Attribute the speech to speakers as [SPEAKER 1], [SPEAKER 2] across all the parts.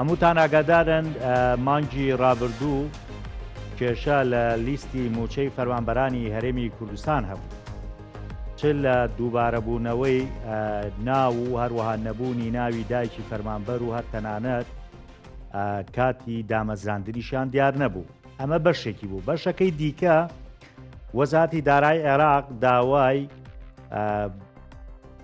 [SPEAKER 1] هەمووتان ئاگادارن مانگی ڕابردوو کێشە لە لیستی موچەی فەرمانبەرانی هەرێمی کوردستان هەبوو چ لە دووبارەبوونەوەی ناو و هەروەها نەبوونی ناوی دایکی فەرمانبەر و هەر تەنانەت کاتی دامەزراندنیشان دیار نەبوو ئەمە بەشێکی بوو بەشەکەی دیکە وەزاتی دارای عێراق داوای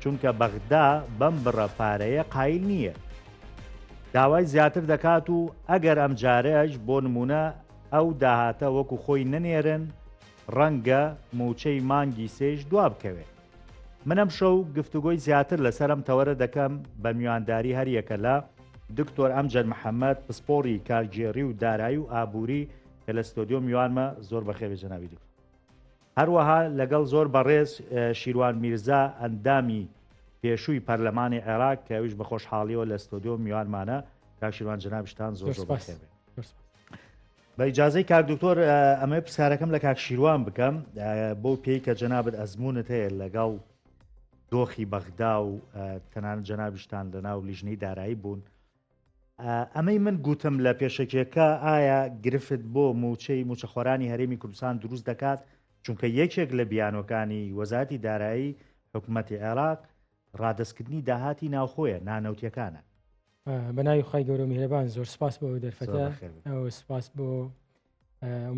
[SPEAKER 1] چونکە بەغدا بەم بڕە پارەیە قایل نییە داوای زیاتر دەکات و ئەگەر ئەم جارەش بۆ نمونە ئەو داهاتە وەکو خۆی نەنێرن ڕەنگە موچەی مانگی سێش دوا بکەوێت منم شەو گفتوگۆی زیاتر لەسەرم تەوەرە دەکەم بە میوانداری هەریەکە لە دکتۆر ئەمجەر محەممەد پسپۆری کارگێڕی و دارایی و ئابووری کە لە ستۆدیۆ میوانمە زۆر بەخێوێ جەناوی دکتۆر هەروەها لەگەڵ زۆر بەڕێز شیروان میرزا ئەندامی پێشووی پەرلەمانی عێراق کە ئەویش بە خۆشحاڵیەوە لە ستۆدیۆ میوانمانە کاک شیروان جنابشتان زۆر زۆر بەخێر بێت. بە ئیجاازەی کاک دکتۆر ئەمە پرسیارەکەم لە کاک شیروان بکەم بۆ پێی کە جەنابەت ئەزمونت هەیە لەگەڵ دۆخی بەغدا و تەنان جەنابشتان لە ناو لیژنەی دارایی بوون ئەمەی من گوتم لە پێشەکێکە ئایا گرفت بۆ موچەی موچەخۆرانی هەرێمی کوردستان دروست دەکات چونکە یەکێک لە بیانوەکانی وەزاتی دارایی حکوومەتی عێراق ڕادستکردنی داهاتی ناوخۆیە نانەوتیەکانە بەناوی
[SPEAKER 2] خی گەورە میهرەبان زۆر سپاس بۆ دەرفەتە سپاس بۆ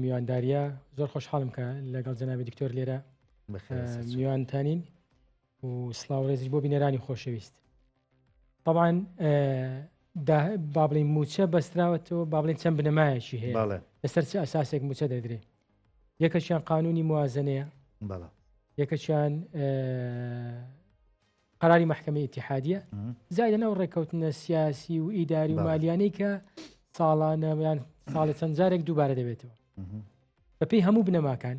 [SPEAKER 2] میوانداریە زۆر خۆشحاڵم کە لەگەڵ جەنابی دکتۆر لێرە میوانتانین و سلااو ڕێزیش بۆ بینەرانی خۆشەویست طبعاان با بڵین موچە بەستراوەتەوە با بڵێن چەند بنەمایەکی هەیە لەسەر چ ئەساسێک موچە دەدرێ یەکەشیان قانونی موازنەیە یەکەشیان قراری محکمە اتحادیە زای لەناو ڕێککەوتنە سیاسی و ئیداری و مالیانەی کە ساڵانەیان ساڵە چەند جارێک دووبارە دەبێتەوە بەپی هەموو بنەماکان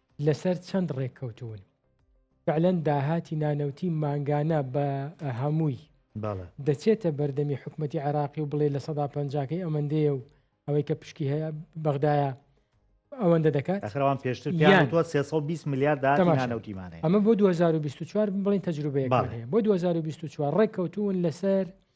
[SPEAKER 2] لەسەر چەند ڕێککەوتوون فعلەن داهاتی نانەوتی مانگانە بە هەمووی دەچێتە بەردەمی حکوومەتتی عێراقی و بڵێ لە سەدا پنجکەی ئەمەندەیە و ئەوەی کە پشکی هەیە بەغدایە ئەوەندە دەکات ئەخراوان پێشتر یان 320
[SPEAKER 1] میلیارد داهاتیمانەوتیمانە ئەمە بۆ 2024
[SPEAKER 2] بڵین تەجروبەیە بۆ 2024 ڕێککەوتون لەسەر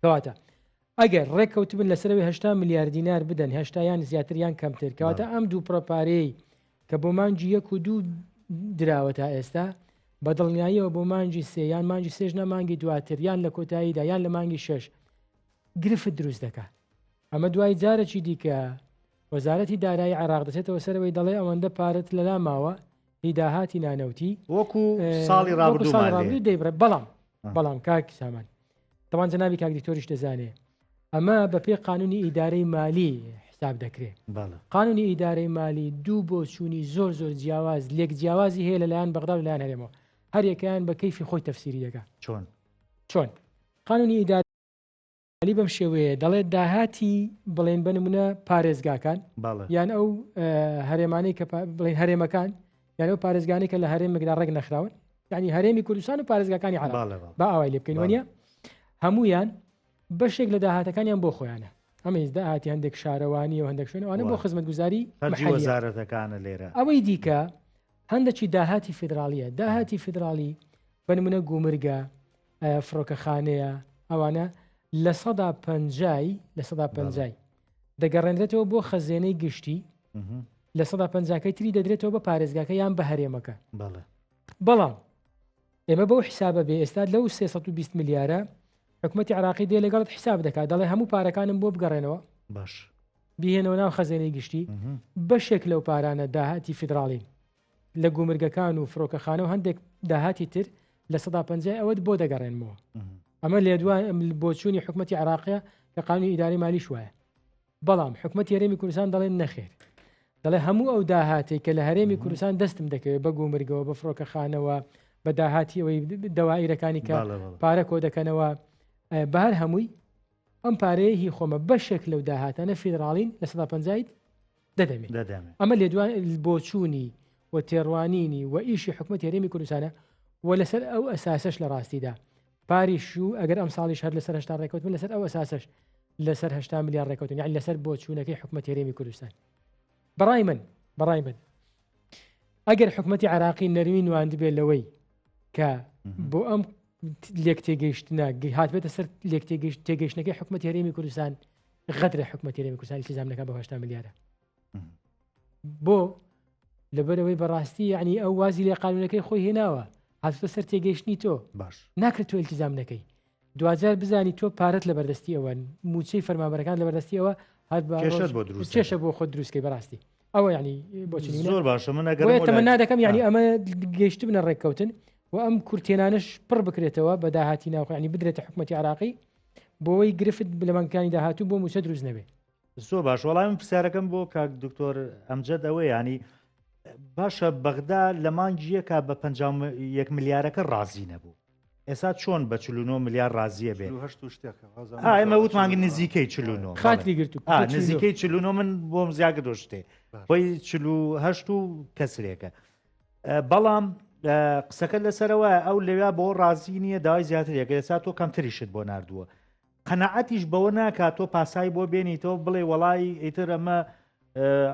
[SPEAKER 2] کەواتە ئەگەر ڕێککەوتبن لەسەرەوەی هشتا میلیارد دینار بدەن هشتایان زیاتریان کەمتر کەواتە ئەم دوو پرۆپارەی کە بۆ مانجی یەک و دوو دراوە تا ئێستا بە دڵنیاییەوە بۆ مانجی سێ یان مانجی سێژ نە مانگی دواتر یان لە کۆتاییدا یان لە مانگی شش گرفت دروست دەکات ئەمە دوای جارەکی دیکە وەزارەتی دارایی عێراق دەچێتەوە سەرەوەی دەڵێ ئەوەندە پارت لەلا ماوە هیداهاتی نانەوتی وەکو
[SPEAKER 1] ساڵی ڕابردوو دەیبرە بەڵام
[SPEAKER 2] بەڵام کاک سامان تەوان جەنابی کاک دیکتۆریش دەزانێ ئەمە بە پێ قانونی ئیدارەی مالی حساب دەکرێت قانونی ئیدارەی مالی دوو بۆ چووی زۆر زۆر جیاواز لێک جیاوازی هەیە لەلایەن بەغدا لەلایەن هەرێمەوە هەریەکەیان بە کەیفی خۆی تەفسیری دەکە چۆن چۆن قانونی ئیدار عەلی بەم شێوەیە دەڵێت داهاتی بڵێن بە نمونە پارێزگاکان یان ئەو هەرێمانەی کە بڵێن هەرێمەکان یان ئەو پارێزگانی کە لە هەرێمێکدا ڕێک نەخراون ینی هەرێمی کوردستان و پارێزگاکانی عراق با ئاوای لێ بکەین وە هەمویان بەشێک لە داهاتەکانیان بۆ خۆیانە ئەمەیز داهاتی هەندێک شارەوانی و هەندێک شوێنەوانە بۆ خزمەت گوزاری وەزارەتەکانە
[SPEAKER 1] لێرە ئەوەی دیکە
[SPEAKER 2] هەندێکی داهاتی فیدراالیە داهاتی فیدراالی بەنمونە گومرگە فڕۆکەخانەیە ئەوانە لە سەدا پەنجای لە سەدا پەنجای دەگەڕێنرێتەوە بۆ خەزێنەی گشتی لە سەدا پەنجاکەی تری دەدرێتەوە بە پارێزگاکە یان بە هەرێمەکە بەڵام ئێمە بەو حیسابە بێ ئێستا لەو 320 میلیارە حکوومەتتی عراقی دێ لەگەڵت حیساب دەکات دەڵێ هەموو پارەکانم بۆ بگەڕێنەوە باش
[SPEAKER 1] بهێنەوە ناو
[SPEAKER 2] خەزێنەی گشتی بەشێک لەو پارانە داهاتی فیدراڵین لە گومرگەکان و فڕۆکەخانە و هەندێک داهاتی تر لە سەدا پنجای ئەوەت بۆ دەگەڕێنمەوە ئەمە لێ دوای بۆچوونی حکوومەتتی عراقە کە قانونی ئیداری مالیش وایە بەڵام حکوومەت یاێمی کوردستان دەڵێن نەخێر دەڵێ هەموو ئەو داهاتی کە لە هەرێمی کوردستان دەستم دەکەوێت بە گومرگەوە بە فڕۆکەخانەوە بە داهاتی ئەوەی دەوایرەکانی کە پارە کۆ دەکەنەوە بە هەر هەمووی ئەم پارەیە هی خۆمە بەشێک لەو داهاتانە فیدراڵین لە سەدا پنجیت دەدەمێت ئەمە لێ دوان بۆچوونی و تێڕوانینی و ئیشی حکوومەت هێرێمی کوردستانە و لەسەر ئەو ئەساسش لە ڕاستیدا پاریش و ئەگەر ئەم ساڵیش هەر لەسەر هشتا ڕێکوتن لەسەر ئەو ئەساسش لەسەر هشتا میلیار ڕێکوتن یان لەسەر بۆ چوونەکەی حکوومەت هێرێمی کوردستان بەڕای من بەڕای من ئەگەر حکوومەتتی عراقی نەروی نواند بێت لەوەی کە بۆ ئەم لێک تێگەیشتە هاتبێتە سەر لێک تێگەیشت تێگەیشتەکەی حکوومەت هەرێمی کوردستان غەدرە حکوومەتی رێمی کوردستانی سزام دەکات بە هشتا ملیارە بۆ لەبەرەوەی بەڕاستی ینی ئەو وازی لە قانونەکەی خۆی هێناوە هاتە سەر تێگەیشتنی تۆ باش ناکرێت تۆ التزام نەکەی دوجار بزانی تۆ پارت لە بەردەستی ئەوە موچەی فەرمابەرەکان لە بەردەستی ئەوە هەر کێشە بۆ خۆ دروستکەی بەڕاستی ئەوە ینی بۆچی زۆر باشە من تەمەنا دەکەم ینی ئەمە گەشت بنە ڕێککەوتن و ئەم کورتێنانش پڕ بکرێتەوە بە داهاتی ناوخۆیانی بدرێتە حکوومەتتی عراقی بۆوەی گرفت لە مانگەکانی داهاتوو بۆ موچە دروست نەبێ زۆ باش وەڵام
[SPEAKER 1] پرسیارەکەم بۆ کاک دکتۆر ئەمجد ئەوە ینی باشە بەغدا لە مانگیەکە بە 1 ملیارەکە ڕازی نەبوو ئێستا چۆن بە 49 ملیار ڕازیە بێ ئەمە وتمانگ نزیکەی خاتی گرت
[SPEAKER 2] نزیکەی
[SPEAKER 1] من بۆم زیاگە دۆشتێ خۆی چهشت و کەسرێکە بەڵام قسەکە لەسەرەوە ئەو لەویا بۆ ڕازی نییە داوای زیاتر یەکە لەسا تۆ کەمتریشت بۆ نردووە قەنەعەتیش بەوە ناکات تۆ پاسایی بۆ بێنیتەوە بڵێ وەڵی ئیتر ئەمە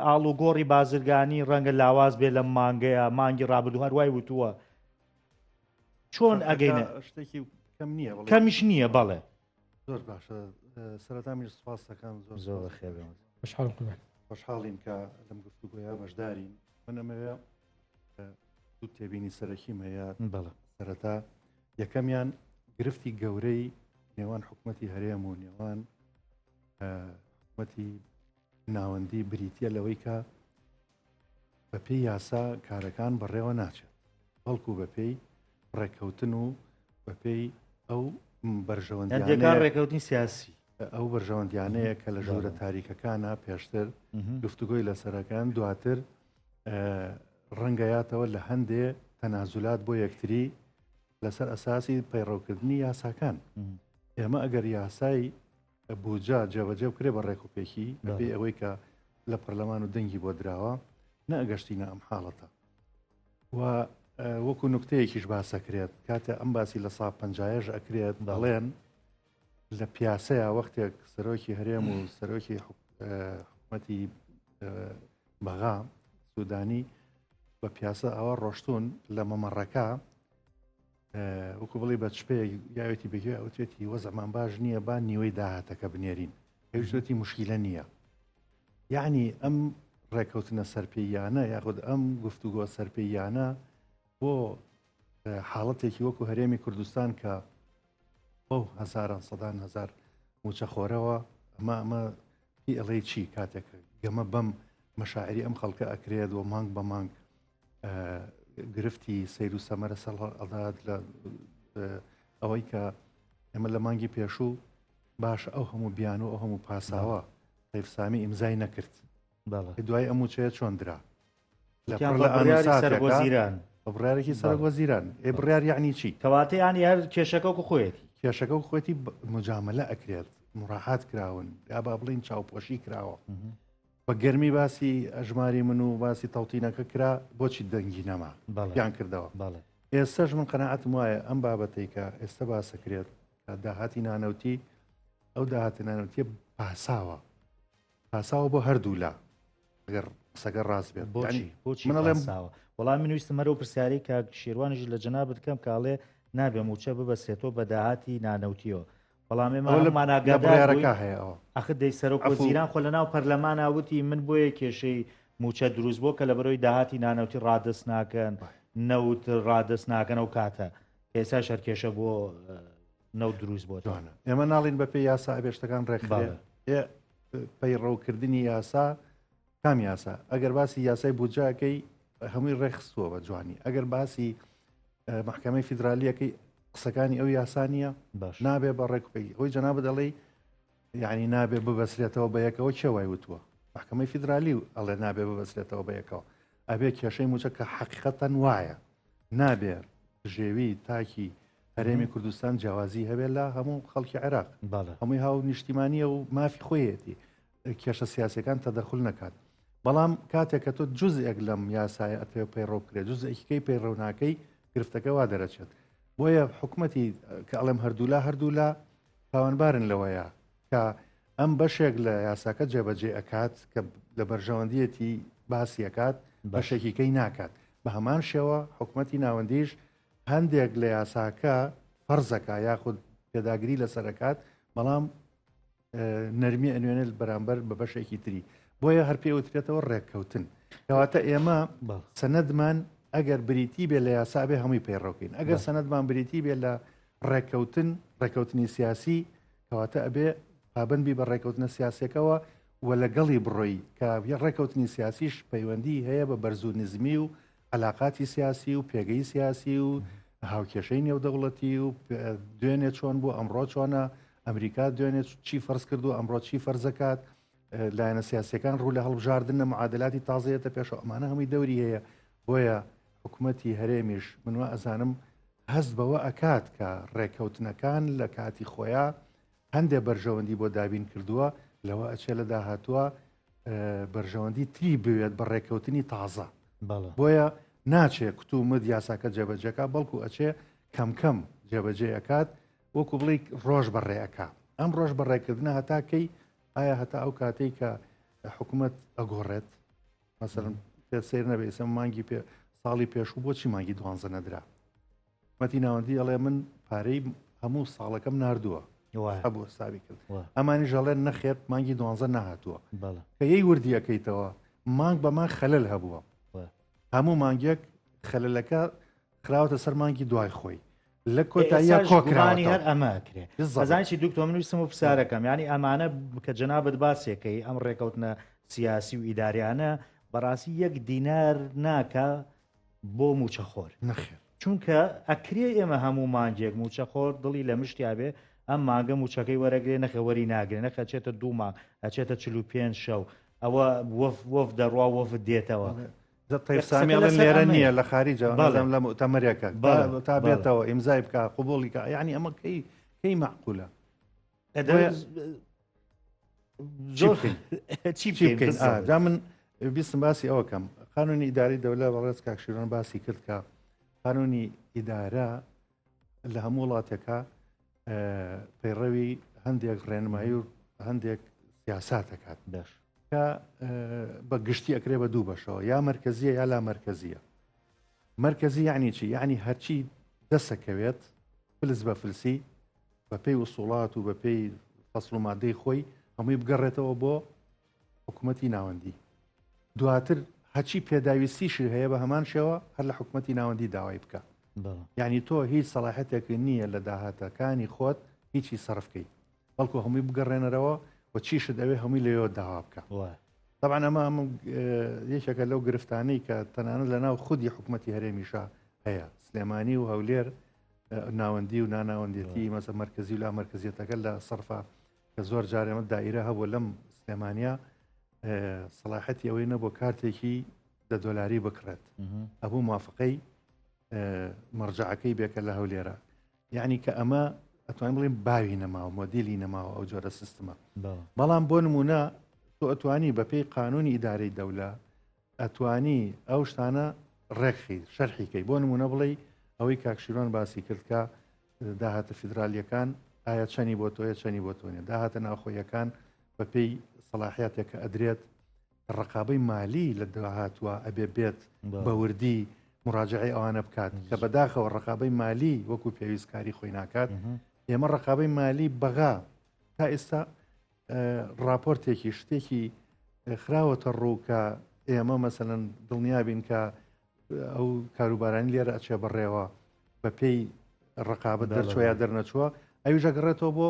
[SPEAKER 1] ئاڵ و گۆڕی بازرگانی ڕەنگە لاواز بێ لە مانگەیە مانگی ڕابدو هەروای وتووە چۆن ئەگەینە شتێکی کەم
[SPEAKER 3] نییە کەمیش نییە بەڵێ
[SPEAKER 1] زۆر باشە
[SPEAKER 3] سەرەتا من سپاس دەکەم زۆر زۆر خێر
[SPEAKER 1] خوشحاڵ
[SPEAKER 3] خوشحاڵین کە لەم گفتوگوۆیا بەشدارین منەمەوێ دوو تێبینی سەرەکی مەیە بەڵە سەرەتا یەکەمیان گرفتی گەورەی نێوان حکوومەتتی هەرێم و نێوان حکوومەتتی ناوەندی بریتە لەوەی کە بە پێی یاسا کارەکان بەڕێوە ناچێت، بەڵکو بە پێی ڕێککەوتن و بە پێی ئەو بەرژەوەندیانەیە
[SPEAKER 1] ڕێککەوتنی سیاسی ئەو بەرژەوەندیانەیە
[SPEAKER 3] کە لە ژوورە تاریکەکانە پێشتر گفتوگۆی لەسەرەکان دواتر ڕەنگەیاتەوە لە هەندێ تەنازولات بۆ یەکتری لەسەر ئەساسی پەیڕەوکردنی یاساکان ئێمە ئەگەر یاسای بوجە جێبەجێ بکرێ بە ڕێک و پێکی بەبێ ئەوەی کە لە پەرلەمان و دەنگی بۆ دراوە نەگەشتینە ئەم حاڵەتە و وەکو نکتەیەکیش باسەکرێت کاتە ئەم باسی لە سا پنجایش ئەکرێت بەڵێن لە پیاسەیە وەختێک سەرۆکی هەرێم و سەرۆکی حکومەتی بەغا سوودانی بە پیاسە ئەوە ڕۆشتون لە مەمەڕەکە وەکو بڵی بە چپەیەک یاوێتی بەگوێ ئەوتێتی وەزەمان باش نییە با نیوەی داهاتەکە بنێرین هێشتێتی مشکیلە نییە یعنی ئەم ڕێککەوتنە سەرپێیانە یاخود ئەم گفتوگۆ سەرپێیانە بۆ حاڵەتێکی وەکو هەرێمی کوردستان کە بەو هەزاران سەدان هزار موچەخۆرەوە ئەمە ئەمە پێڵێ چی کاتێک گەمە بەم مەشاعری ئەم خەڵکە ئەکرێت و مانگ بە مانگ گرفتی سیر و سەمەرە سەڵ ئەڵات لە ئەوەی کە ئێمە لە مانگی پێشوو باش ئەو هەموو بیان و ئەو هەموو پاساوە قەیفسامی ئیمزای نەکرد دوای ئەم وچەیە چۆن درا لە سەرۆزیران بڕارێکی سەر وەزیران ئێ بڕار یعنی چی کەواتە ینی هەر
[SPEAKER 1] کێشەکە و خۆێتی کێشەکە و خۆێتی
[SPEAKER 3] مجاملە ئەکرێت مڕاحات کراون یا با بڵین چاوپۆشی کراوە بە گەرمی باسی ئەژماری من و باسی تەوتینەکە کرا بۆچی دەنگی نەما بەڵیان کردەوە بەڵێ ئێستش من قەنەعەتم وایە ئەم بابەتەی کە ئێستا باسەکرێت داهاتی نانەوتی ئەو داهاتی نانەوتیە پاساوە پاساوە بۆ هەردوولا ئەگەر قسەگە ڕاست بێت بۆچی بۆچی منڵێم
[SPEAKER 1] وەڵام من ویستم هەرو پرسیاری کە شێوانیش لە جەنا بکەم کاڵێ نابێ موچە ببەسێتەوە بە داهاتی نانەوتیەوە بەڵام ئێمە ئەوە لە هەموومان لە ئاگادار بڕیارەکە
[SPEAKER 3] بووین هەیە ئەوە ئاخر دەی سەرۆک عەفو.
[SPEAKER 1] وەزیران خۆ لە ناو پەرلەمانا وتی من بۆیە کێشەی مووچە دروست بووە کە لە بەرەوەی داهاتی نانەوتی ڕادەست ناکەن وای. نەوت ڕادەست ناکەن ئەو کاتە کە ئێستا شەرکێشە بۆ اه، نەوت دروست بۆتەوە جوانە ئێمە ناڵین
[SPEAKER 3] بەپێی یاسا ئەبێشتەکان ڕێکخرێ بەڵێ. ئێ، پەیڕەوکردنی یاسا کام یاسا ئەگەر باسی یاسای بودجاکەی هەمووی ڕێخستووە بە جوانی ئەگەر باسی محکمەی فیدراالیەکەی قسەکانی ئەو یاسانیە باش نابێ بە ڕێکپی ئەوی جەناب دەڵی یعنی نابێ ببەسرێتەوە بە یەکەوە چێوای وتووە محکمەی فیدراالی و ئەڵێ نابێ ببەسرێتەوە بە یەکەوە ئەبێ کێشەی موچە کە حەقیقەتەن وایە نابێ ژێوی تاکی هەرێمی کوردستان جیاوازی هەبێت لە هەموو خەڵکی عێراق هەمووی هاو نیشتیمانیە و مافی خۆیەتی کێشە سیاسیەکان تەدەخول نەکات بەڵام کاتێک کە تۆ جزئێک لەم یاسایە ئەتەوێ پەیڕەو بکرێت جزئێکیکەی پەیڕەوناکەی گرفتەکەوا دەرەچێت بۆیە حکوومەتی کە ئەڵێم هەردوولا هەردوولا تاوانبارن لەوەیە کە ئەم بەشێک لە یاساکە جێبەجێ ئەکات کە لە بەرژەوەندیەتی باسیەکات بەشێکیکەی ناکات بە هەمان شێوە حکوومەتی ناوەندیش هەندێک لە یاساکە فەرزەکە یاخود پێداگری لەسەرکات بەڵام نەرمی ئەنوێنێت بەرامبەر بە بەشێکی تری بۆیە هەر پێ وترێتەوە ڕێککەوتن کەواتە ئێمە سەنەدمان ئەگەر بریتی بێ لە یاسابێ هەمووی پەیڕۆکەین ئەگەر سەنەدمان بریتی بێ لە ڕێککەوتن ڕێککەوتنی سیاسی کەواتە ئەبێ پابندبی بە ڕێککەوتنە سیاسەکەەوە و لەگەڵی بڕۆی کە ڕێککەوتنی سیاسیش پەیوەندی هەیە بە بەرزو نزمی و علاقاتی سیاسی و پێگەی سیاسی و هاوکێشەی نێودەوڵەتی و دوێنێ چۆن بوو ئەمڕۆ چۆنە ئەمریکا دوێنێت چی فەرز کرد و ئەمڕۆ چی فەرزەکات لایەنە سیاسەکان ڕوو لە هەڵبژاردنە معادلاتی تازەیەتە پێش ئەمانە هەمووی دەوری هەیە بۆیە حکوومەتتی هەرێمیش منوە ئەزانم هەست بەوە ئەکات کە ڕێککەوتنەکان لە کاتی خۆیان هەندێ بەرژەوەندی بۆ دابین کردووە لەوە ئەچێ لە داهاتووە بەرژەوەندی تری بوێت بە ڕێککەوتنی تازە بۆیە ناچێ کتومت یاساکە جێبەجەکە بەڵکو ئەچێ کەم کەم جێبەجێ ئەکات وەکو بڵی ڕۆژ بەڕێەکە ئەم ڕۆژ بەڕێکردنە هەتاکەی ئایا هەتا ئەو کاتەی کە حکوومەت ئەگۆڕێت مەسەرم پێ سیر نەبێ ئسم مانگی پێ ساڵی پێشوو بۆچی مانگی دوانزە نەدرا حکومەتی ناوەندی ئەڵێ من پارەی هەموو ساڵەکەم نردووە بۆ ساوی کرد ئەمانی ژەڵێن نەخێت مانگی دوانزە نهاتووە کەی وردیەکەیتەوە مانگ بەمان خەلل هەبووە هەموو مانگێک خەلەکە خراوەتە سەر مانگی دوای خۆی لە کۆتاییە کۆکرانی هەر ئەمە کرێت زانانی
[SPEAKER 1] دکتۆ من ویستم و پرسیارەکەم ینی ئەمانە کە جەنابەت باسێکەکەی ئەم ڕێکەوتنە سیاسی و ئیداریانە بەڕاستی یەک دینار ناکە بۆ موچەخۆر نەخێر چونکە
[SPEAKER 3] ئەکرێ
[SPEAKER 1] ئێمە هەموو مانگێک موچەخۆر دڵی لە مشتیا بێ ئەم مانگە موچەکەی وەرەگرێ نەخێ وەری ناگرێ نەخێ ئەچێتە دوو مانگ ئەچێتە چل و پێنج شەو ئەوە وەف وەف دەڕوا وەفد دێتەوە تەیفسامی
[SPEAKER 3] ئەڵێن لێرە نییە لە خارجەوە بەڵێم لە مؤتەمەرێکە تا بێتەوە ئیمزای بکە قوبوڵیکە یعنی ئەمە کەی کەی معقولە جا من بیستم باسی ئەوکەم قانونی ئیداری دەولە بەڕێز کاکشیرۆن باسی کرد کە قانونی ئیدارە لە هەموو وڵاتەکە پەیڕەوی هەندێک ڕێنمایی و هەندێک سیاسا دەکات بەش کە بە گشتی ئەکرێ بە دوو بەشەوە یا مرکزیە یا لا مرکزیە مرکزی یعنی چی یعنی هەرچی دەسەکەوێت فلس بە فلسی بە پێی وسوڵات و بە پێی فەسڵ و مادەی خۆی هەمووی بگەڕێتەوە بۆ حکوومەتی ناوەندی دواتر هەچی پێداویستیشی هەیە بە هەمان شێوە هەر لە حکوومەتی ناوەندی داوای بکە یعنی تۆ هیچ سەڵاحەتێک نییە لە داهاتەکانی خۆت هیچی سەرفکەی بەڵکو هەمووی بگەڕێنەرەوە و چیشت ئەوێ هەمووی لەوە داوا بکە طبعا ئەمە ئەمە یەکێکە لەو گرفتانەی کە تەنانە لە ناو خودی حکوومەتتی هەرێمیشە هەیە سلێمانی و هەولێر ناوەندی و ناناوەندێتی مەسە مرکزی و لا مرکزیەتەکە لە سەرفا کە زۆر جار ئەمە دایرە هەبوو لەم سلێمانیا سەڵاحەتی ئەوەی نەبوو کارتێکی دە دۆلاری بکڕێت ئەبوو موافقەی مەرجعەکەی بێکە لە هەولێرە یعنی کە ئەمە ئەتوان بڵێن باوی نەماوە مۆدیلی نەماوە ئەو جۆرە سیستمە بەڵام بۆ نمونە تۆ ئەتوانی بەپێی قانونی ئیدارەی دەولە ئەتوانی ئەو شتانە ڕێکخی شەرحی کەی بۆ نمونە بڵێ ئەوەی کاکشیرۆن باسی کرد کە داهاتە فیدراالیەکان ئایا چەنی بۆ تۆیە چەنی بۆ تۆنیە داهاتە ناوخۆیەکان بە پێی سەلاحاتێک کە ئەدرێت ڕقابەی مالی لە داهاتوە ئەبێ بێت بەوردی مراجعی ئەوانە بکات کە بەداخەوە ڕقابەی مالی وەکو پێویستکاری خۆی ناکات ئێمە ڕقابەی مالی بەغا تا ئێستا ڕاپۆرتێکی شتێکی خراوەتە ڕوو کە ئێمە مەسەن دڵنیابین کە ئەو کاروبارانی لێرە ئەچێ بەڕێوە بە پێی ڕقابە دەرچوە یا دەرنەچووە ئەوی ژەگەڕێتەوە بۆ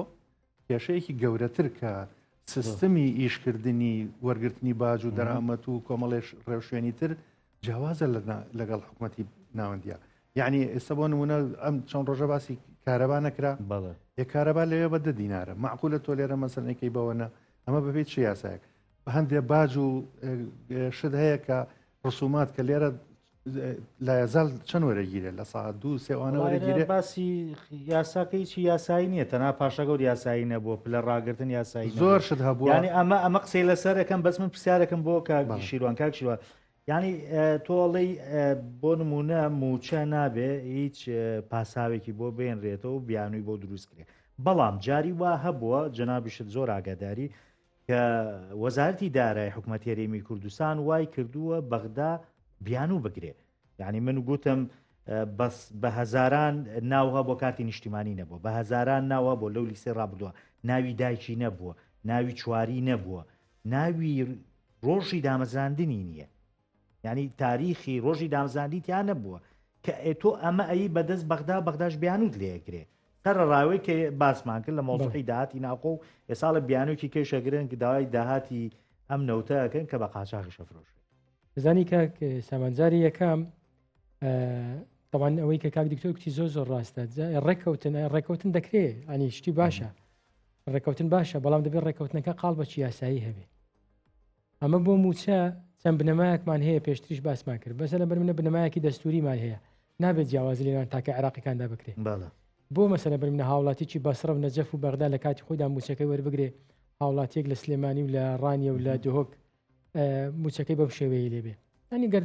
[SPEAKER 3] کێشەیەکی گەورەتر کە سیستمی ئیشکردنی وەرگرتنی باج و دەرامەت و کۆمەڵێش ڕێوشێنی تر جیاوازە لەگەڵ حکوومەتی ناوەندە یعنی ئێستا بۆ نمونە ئەم چەند ڕۆژە باسی کارەبا نەکرا بەڵێ یە کارەبا لەوێ بە دە دینارە معقولە تۆ لێرە مەسەنەکەی بەوەە ئەمە بەبێت چ یاسایەک هەندێ باج و شت هەیە کە ڕسومات کە لێرە لایەزال چەند وەرەگیرێ لە ساعت دوو سێوانە وەرەگیرێ باسی
[SPEAKER 1] یاساکەی چی یاسایی نییە تەنا پاشەگەور یاسایی نەبووە پلە ڕاگرتن یاسایی زۆر شت هەبووانی
[SPEAKER 3] ئەمە ئەمە قسەی
[SPEAKER 1] لەسەرەکەم بەس من پرسیارەکەم بۆ کاگی شیروان کاک شیروان یانی تۆ ئەڵێی بۆ نمونە موچە نابێ هیچ پاساوێکی بۆ بێنرێتەوە و بیانووی بۆ دروست کرێت بەڵام جاری وا هەبووە جەنابیشت زۆر ئاگاداری کە وەزارتی دارای حکوومەتێریمی کوردستان وای کردووە بەغدا بیانوو بگرێ یعنی من گوتم بەس بە هەزاران ناوها بۆ کارتی نیشتیمانی نەبووە بە هەزاران ناوە بۆ لەو لیستی ڕابدووە ناوی دایکی نەبووە ناوی چواری نەبووە ناوی ڕۆژی دامەزراندنی نییە ینی تاریخی ڕۆژی دامزاندی تیا نەبووە کە ئێتۆ ئەمە ئەی بەدەست بەغدا بەغداش بیانوت لەیەگرێ سەرڕاوی کە باسمان کرد لە مۆزەکەی داهاتی ناوخۆ و ئێساڵە بیانوکی کێشەگرن کە داوای داهاتی ئەم نەوتەکەن کە بە قاچاخی شەفرۆش بزانی کە
[SPEAKER 2] سامانجاری یەکەم تەوان ئەوەی کە کاک دکتۆر کچی زۆر زۆر ڕاستە ڕێککەوتن ڕێککەوتن دەکرێت ئەنی شتی باشە ڕێککەوتن باشە بەڵام دەبێت ڕێککەوتنەکە قاڵ بە چیاسایی هەبێت ئەمە بۆ موچە چەند بنەمایەکمان هەیە پێشتریش باسمان کرد بەسە لە بەر منە بنەمایەکی دەستوریمان هەیە نابێت جیاوازی لێوان تاکە عێراقیەکاندا بکرێت بۆ مەسەلە بەر منە هاوڵاتیی بەسرە و نەجەف و بەغدا لە کاتی خۆیدا موچەکەی وەربگرێ هاوڵاتیەک لە سلێمانی و لە ڕانیە و لە دهۆک موچەکەی بەم شێوەیە لێبێ ئەنیگەر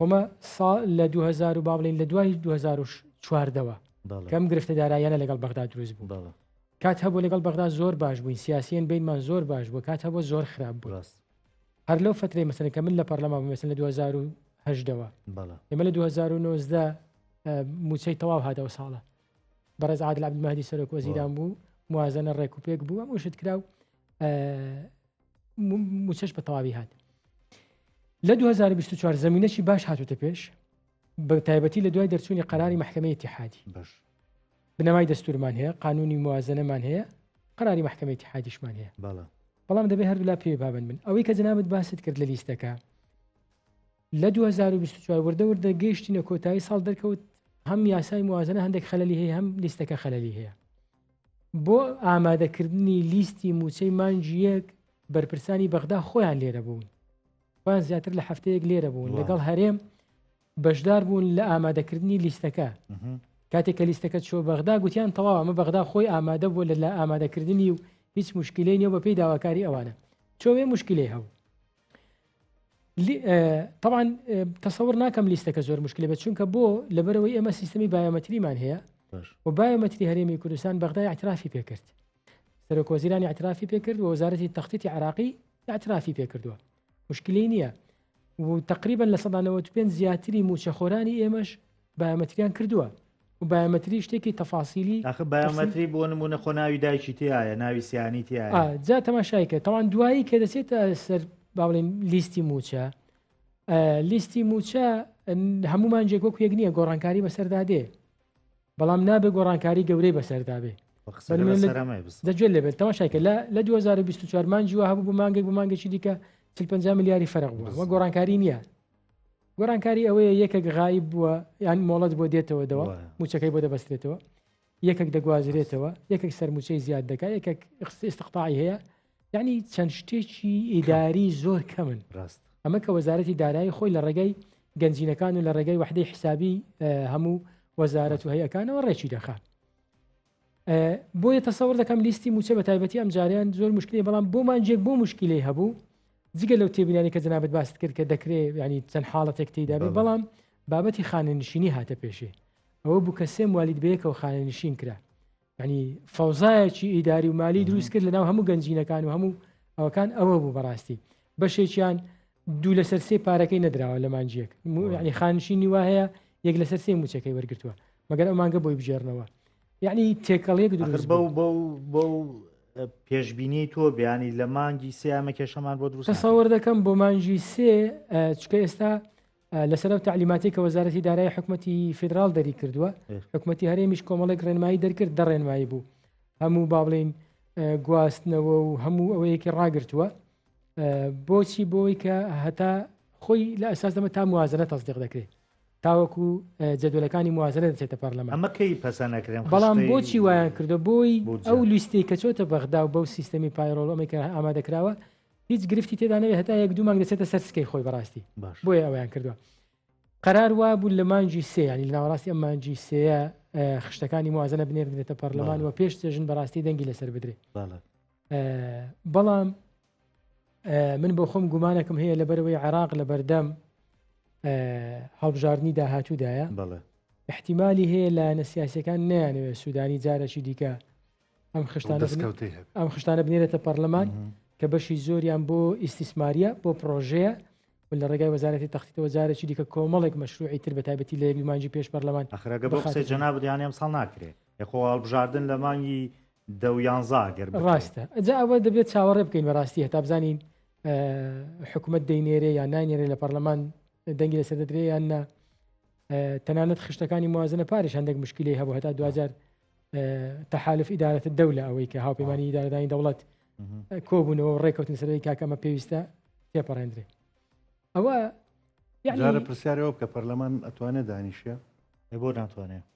[SPEAKER 2] ئەمە ساڵ لە 2000 با بڵین لە دوای 2014ەوە کەم گرفتە دارایانە لەگەڵ بەغدا دروست بوو بەڵە کات هەبوو لەگەڵ بەغدا زۆر باش بووین سیاسیان بینمان زۆر باش بوو کات هەبوو زۆر خراپ بوو ڕاست هەر لەو فترەی مەسەن کە من لە پەرلەما بمەسن لە 2010ەوە بەڵە ئێمە لە 2009 موچەی تەواو هاتەوە ساڵە بەڕێز عادل عبدمەدی سەرۆک وەزیران بوو موازنە ڕێکوپێک بوو ئەم شت کرا و موچەش بە تەواوی هات لە 2024 زمینەی باش هاتوتە پێش بە تایبەتی لە دوای دەرچوونی قەراری محکمەی تحادی بنەمای دەستورمان هەیە قانونی موازنەمان هەیە قەراری محکمەی تحادیشمان هەیە بەڵام دەبێ هەردوولا پێ بابن من ئەوەی کە جنابەت باست کرد لە لیستەکە لە 2024 وردە وردە گەیشتینە کۆتایی ساڵ دەرکەوت هەم یاسای موازنە هەندێک خەلی هەیە هەم لیستەکە خەلی هەیە بۆ ئامادەکردنی لیستی موچەی مانجیەک بەرپرسانی بەغدا خۆیان لێرە بوون بان زیاتر لە هەفتەیەک لێرە بوون لەگەڵ هەرێم بەشدار بوون لە ئامادەکردنی لیستەکە کاتێک کە لیستەکە چۆ بەغدا گوتیان تەواو ئەمە بەغدا خۆی ئامادە بوو لە لە ئامادەکردنی و هیچ مشکلەی نیە بە پێی داواکاری ئەوانە چۆێ مشکلی هەبوو طبعاان تەسەور ناکەم لیستەکە زۆر مشکلی بە چونکە بۆ لەبەرەوەی ئێمە سیستمی بایۆمەتریمان هەیە و بایۆمەتری هەرێمی کوردستان بەغدای اعترافی پێکرد سەرۆک وەزیرانی اعترافی پێکرد و وەزارەتی تەختی عراقی اعترافی پێکردووە مشکلی نییە و تقریبان لە 1995 زیاتری موچەخۆرانی ئێمەش بایۆمەتریان کردووە و بایۆمەتری شتێکی تەفاسیلی ئەخ بایۆمەتری بۆ
[SPEAKER 1] نمونە خۆ ناوی دایکی تایە ناوی سیانی تایە ئا، جا تەماشایکە
[SPEAKER 2] تەوان دوایی کە دەچێتە سەر با بڵێن لیستی موچە ئە، لیستی موچە ئن، هەمومان جێک وەک یەک نییە گۆڕانکاری بەسەردا دێ بەڵام نابێ گۆڕانکاری گەورەی بەسەردا بێ بە قسە بەرمێ لە- سەرەمای بس دەجوێت لێبێت تەماشایکە لە لە 2024 مانجیوە هەبوو بۆ مانگێک بۆ مانگێکی دیکە 50 ملیاری فەرق بووە وە گۆڕانکاری نییە گۆرانکاری ئەوەیە یەکێک غایب بووە یان مۆڵەت بۆ دێتەوە دەوە موچەکەی بۆ دەبەستێتەوە یەکێک دەگوازرێتەوە یەکێک سەرموچەی زیاد دەکا یەکێک استقطاعی هەیە یعنی چەند شتێکی ئیداری زۆر کەمن ڕاست ئەمە کە وەزارەتی دارایی خۆی لە ڕێگەی گەنجینەکان و لە ڕێگەی وحدەی حسابی هەموو وەزارەت و هەیەکانەوە ڕێکی دەخات بۆیە تەسەور دەکەم لیستی موچە بە تایبەتی ئەم جاریان زۆر مشکلی بەڵام بۆ مانجێک بۆ مشکلی هەبوو جگە لەو تێبینانی کە جنابەت باست کرد کە دەکرێت ینی چەند حاڵەتێک تیدا بەڵام بابەتی خانەنشینی هاتە پێشێ ئەوە بوو کە سێم والید بەیەکەوە خانەنشین کرا ینی فەوزایەکی ئیداری و مالی دروست کرد لەناو هەموو گەنجینەکان و هەموو ئەوکان ئەوە بوو بەڕاستی بەشێکیان دوو لەسەر سێ پارەکەی نەدراوە لە مانجیەک یعنی خانشینی وا هەیە یەک لەسەر سێ موچەکەی وەرگتووە مەگەر ئەو مانگە بۆی بژێرنەوە یعنی تێکەڵیەک دروست بە بە بە
[SPEAKER 1] پێشببینی تۆ بیانی لە مانگی سیامە کێشەمان بۆ دروست ساوەر دەکەم بۆ مانجی
[SPEAKER 2] سێ چکە ئێستا لەسەر ئەو تعلیماتی کە وەزارەتی دارای حکوومەتتی فیدرال دەری کردووە حکوومەتتی هەرێمیش کۆمەڵێک ڕێنمایی دەرکرد دە ڕێنمایی بوو هەموو با بڵین گواستنەوە و هەموو ئەوەیەکی ڕاگرتووە بۆچی بۆی کە هەتا خۆی لە ئەساس دەمە تا موازنە تەزدیق دەکرێت تاوەکو جەدولەکانی موازنە دەچێتە پەرلەمان ئەمەکەی پەسەنەکرێن
[SPEAKER 1] بەڵام بۆچی وایان
[SPEAKER 2] کردو بۆی ئەو لیستی کە چۆتە بەغدا و بەو سیستەمی پایرۆڵ ئەمەکە ئامادەکراوە هیچ گرفتی تێدانەوێت هەتا یەک دوو مانگ دەچێتە سەر سکەی خۆی بەڕاستی بۆیە ئەویان کردووە قرار وا بوو لە مانجی سێ ینی لە ناوەڕاستی ئەم مانجی سەیە خشتەکانی موازنە بنێردرێتە پەرلەمان و پێش چێژن بەڕاستی دەنگی لەسەر بدرێت بەڵام من بۆ خۆم گومانەکەم هەیە لەبەرەوەی عراق لە بەردەم هەڵبژاردننی داهاتوودایە بڵێ احتیممالی هەیە لە نەسیاسەکان نیانەوێت سوودانی جارەکی دیکە ئەم خشتانە ئەم خشتانە بنێرێتە پەرلەمان کە بەشی زۆریان بۆ ئیسیسماریە بۆ پرۆژەیە لە ڕێگای وەزارەتی تەختیتەوە جارێکی دیکە کۆمەڵێک مەشروعی تر بە تایبەتی لە یەکمانجی پێش پەرلەمان ئەخراگە بۆ قسەی
[SPEAKER 1] جەنابیان ئەم ساڵ ناکرێت خۆ هەڵبژاردن لە مانگی دە یانزا گەر ڕاستە ئەجا ئەوە
[SPEAKER 2] دەبێت چاوەڕێ بکەین بەڕاستی هەتا بزانین حکوومەت دەینێرێ یان ناینێرێ لە پەرلەمان دەنگی لەسەر دەدرێ یان نا تەنانەت خشتەکانی موازنە پارش هەندێک مشکلی هەبوو هەتا دوجار تەحالف ئیدارەت دەولە ئەوەی کە هاوپەیمانانی ئیدارەدانی دەوڵەت کۆبوونەوە ڕێککەوتن سەرەوەی کاکەمە پێویستە تێپەڕێندرێ ئەوە
[SPEAKER 3] یعنی پرسیارەوە بکە پەرلەمان ئەتوانێت دانیشە بۆ ناتوانێت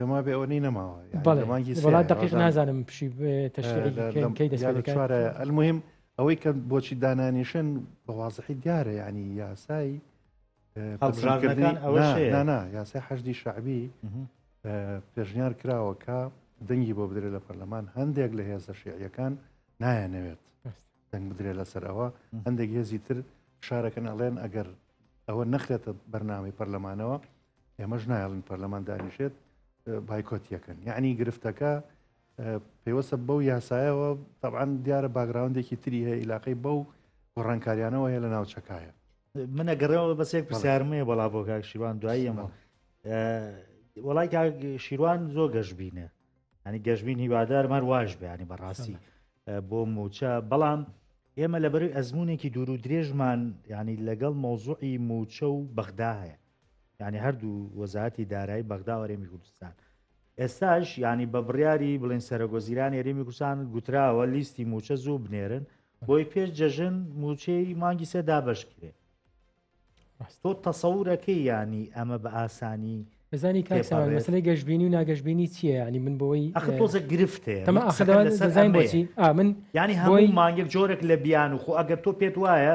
[SPEAKER 3] دەما بێ ئەوە نی نەماوە بەڵێمانگی وڵات دقیق
[SPEAKER 2] نازانم پشی تەشکەی دەسوارە ئەلمهم
[SPEAKER 3] ئەوەی کە بۆچی دانانیشن بە وازحی دیارە ینی یاسایی هەڵبژاردنەکان ئەوە نانا یاسای حەشدی شعبی پێشنیار کراوە کە دەنگی بۆ بدرێت لە پەرلەمان هەندێک لە هێزە شعیەکان نایەنەوێت دەنگ بدرێت لەسەر ئەوە هەندێک هێزی تر شارەکەن ئەڵێن ئەگەر ئەوە نەخرێتە بەرنامی پەرلەمانەوە ئێمەش نایڵین پەرلەمان دانیشێت بایکۆتیەکەن یعنی گرفتەکە پێوەسە بەو یاسایەوە طبعاان دیارە باگراوندێکی تری هەیە عیلاقی بەو گۆڕانکاریانەوە هەیە لە ناوچەکایە منە گەڕەوە
[SPEAKER 1] بەسێک پرسیارمەیە بەڵا بۆ کاک شیوان دوایی ئەمە وڵای کاک شیروان زۆ گەشببینە ئەنی گەشببین هیوادار مار واش بەیانی بەڕاستی بۆ موچە بەڵام ئێمە لەبەروی ئەزمونێکی دوور و درێژمان ینی لەگەڵ مۆزوعی موچە و بەغدا هەیە یعنی هەردوو وەزاتی دارایی بەغدا وەرێمی کوردستان ئێستاش ینی بە بڕیاری بڵێن سەرۆگۆزیران ێریمی کوردستان گوتراوە لیستی موچە زوو بنێرن بۆی پێش جەژن موچەی مانگی سێ دابشکرێ تۆ تەسەورەکەی ینی ئەمە بە ئاسانی بزانی کاسەی
[SPEAKER 2] گەشتبینی و ناگەشتبینی چییە ینی من بۆی تۆزە گرفتێ
[SPEAKER 1] من ینی هەموو مانگێک
[SPEAKER 2] جۆرێک
[SPEAKER 1] لە بیان و خۆ ئەگەر تۆ پێت وایە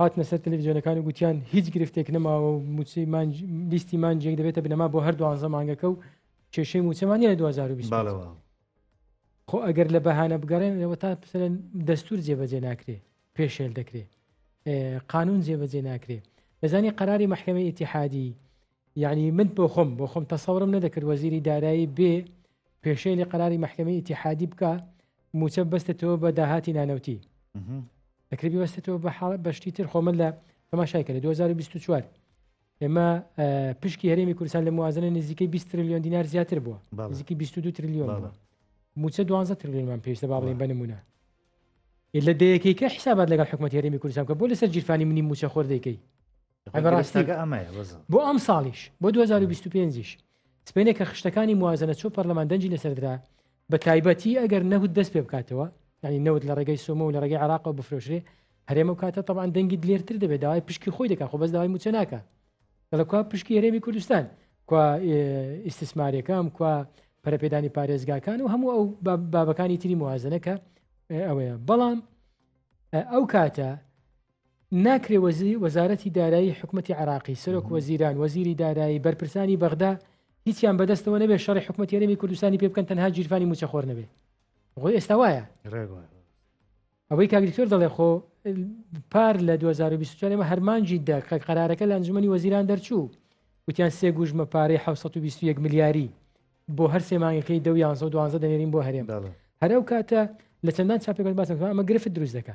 [SPEAKER 2] هاتنە سەر تەلەفزیۆنەکان و گوتیان هیچ گرفتێک نەماوە و موچەی مانج لیستی مانجێک دەبێتە بنەما بۆ هەر دوانزە مانگەکە و کێشەی موچەمانی لە 2020 باڵەوە خۆ ئەگەر لە بەهانە بگەڕێنەوە تا پسەن دەستور جێبەجێ ناکرێ پێشێل دەکرێ ئێ، قانون جێبەجێ ناکرێ دەزانی قەراری محکمە ئیتیحادی یعنی من بۆ خۆم بۆ خۆم تەسەورم نەدەکرد وەزیری دارایی بێ پێشێ لە قەراری مححکەمی ئتیحادی بکە موچە بەستێتەوە بە داهاتی نانەوتی دەکرێبی بەستێتەوە بە حاڵ بەشتی تر خۆمە لە تەماشای کرد 2024 ئێمە پشکی هەرێمی کوردستان لە موازنە نزیکەی 20 تریلیۆن دینار زیاتر بووە نزیکی 22 تریلیۆن موچە 12 تریلیۆنمان پێویستە با بڵێن بنمونە لە دەیەکەیکە حسابات لەگەڵ حکومەت هەرێمی کوردستان کە بۆ لەسەر جیرفانی منی موچە خۆر دەکەی بەڕاستی بۆ ئەم ساڵیش بۆ 2025یش سپێنێ کە خشتەکانی موازنە چۆ پەرلەمان دەنجی لەسەردرا بە تایبەتی ئەگەر نەوت دەست پێ بکاتەوە ینی نەوت لە ڕێگەی سۆمە و لە ڕێگەی عراقەوە بفرۆشرێ هەرێمە و کاتە تەوان دەنگی لێرتر دەبێت داوای پشکی خۆی دەکە خۆ بەس داوای موچە ناکە دەڵکوا پشکی هەرێمی کوردستان کوا ئیسسمارەکەم کوا پەرپێدانی پارێزگاکان و هەموو ئەو بابەکانی تری موازنەکە ئەوەیە بەڵام ئەو کاتە ناکرێ وەزی وەزارەتی دارایی حکومەتی عراقی سەرۆک وەزیران وەزیری دارایی بەرپرسانی بەغدا هیچیان بەدەستەوە نەبێ شەڕی حکومەت یەرەمی کوردستانی پێ بکەن تەنها گیرفانی موچەخۆر نەبێ غۆی ئێستا وایە ئەوەی کاگریکتۆر دەڵێ خۆ پار لە 2024 ئمە هەرمانجی دە کە قەرارەکە لە ئەنجومی وەزیران دەرچوو وتیان سێ گوژمە پارەی 1920 ملیاری بۆ هەر سێمانگەکەی دە یان دوانزە دەێرین بۆ هەرێم هەرو کاتە لە چەندان چاپێکەکە باسەکە ئەمە گرفت دروست دەکە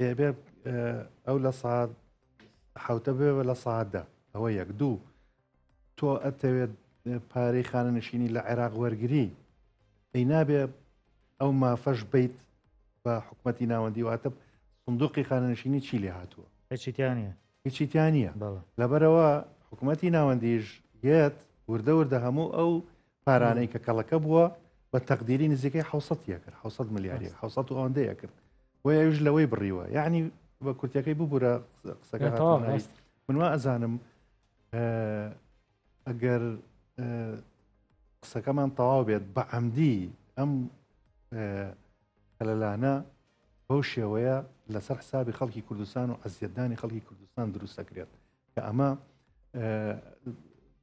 [SPEAKER 3] دەبێ ئەو لە ساعت حوتە بێ لە ساعتدا ئەوە یەک دوو تۆ ئەتەوێت پارەی خانەنشینی لە عێراق وەرگری ئەی نابێ ئەو مافەش بیت بە حکوومەتتی ناوەندی واتە سندوقی خانەنشینی چی لێ هاتووە هیچیتیانە هیچیتیانە لەبەرەوە حکوومەتتی ناوەندیش یەت وردە وردە هەموو ئەو پارانەی کە کەڵەکە بووە بە تەقدیری نزیکەی حوسەتە کرد حوسە ملیاری حوسە و ئەوەندەیە کرد و یش لەوەی بڕیوە یعنی بە کورتەکەی ببوورە قسەکە منوا ئەزانم ئەگەر قسەکەمان تەواو بێت بە ئەمدی ئەم هەلەلانە بەو شێوەیە لەسەر حسابی خەڵکی کوردستان و ئەزیەتدانی خەڵکی کوردستان دروستەکرێت کە ئەمە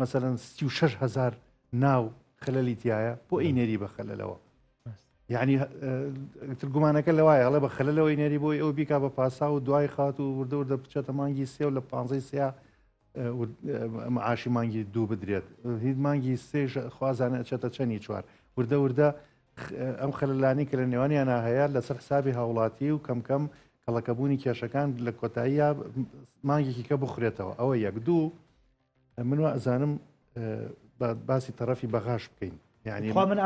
[SPEAKER 3] مەسەلەن سی و شەش هەزار ناو خەلەلی تایە بۆ ئەی نێری بە خەلەلەوە یعنی تر گومانەکە لەوایە هەڵێ بە خەلەلەوەی نێری بۆی ئەو بیکا بە پاسا و دوای خات و وردە وردە بچێتە مانگی سێ و لە پانزەی سیا معاشی مانگی دوو بدرێت هیچ مانگی سێژ خوازانە ئەچێتە چەنی چوار وردە وردە ئەم خەللانی کە لە نێوانیانە هەیە لەسەر حسابی هاوڵاتی و کەم کەم کەڵەکەبوونی کێشەکان لە کۆتاییە مانگێکی کە بخورێتەوە ئەوە یەک دوو من وازانم باسی تەرەفی بەغاش بکەین یعنی من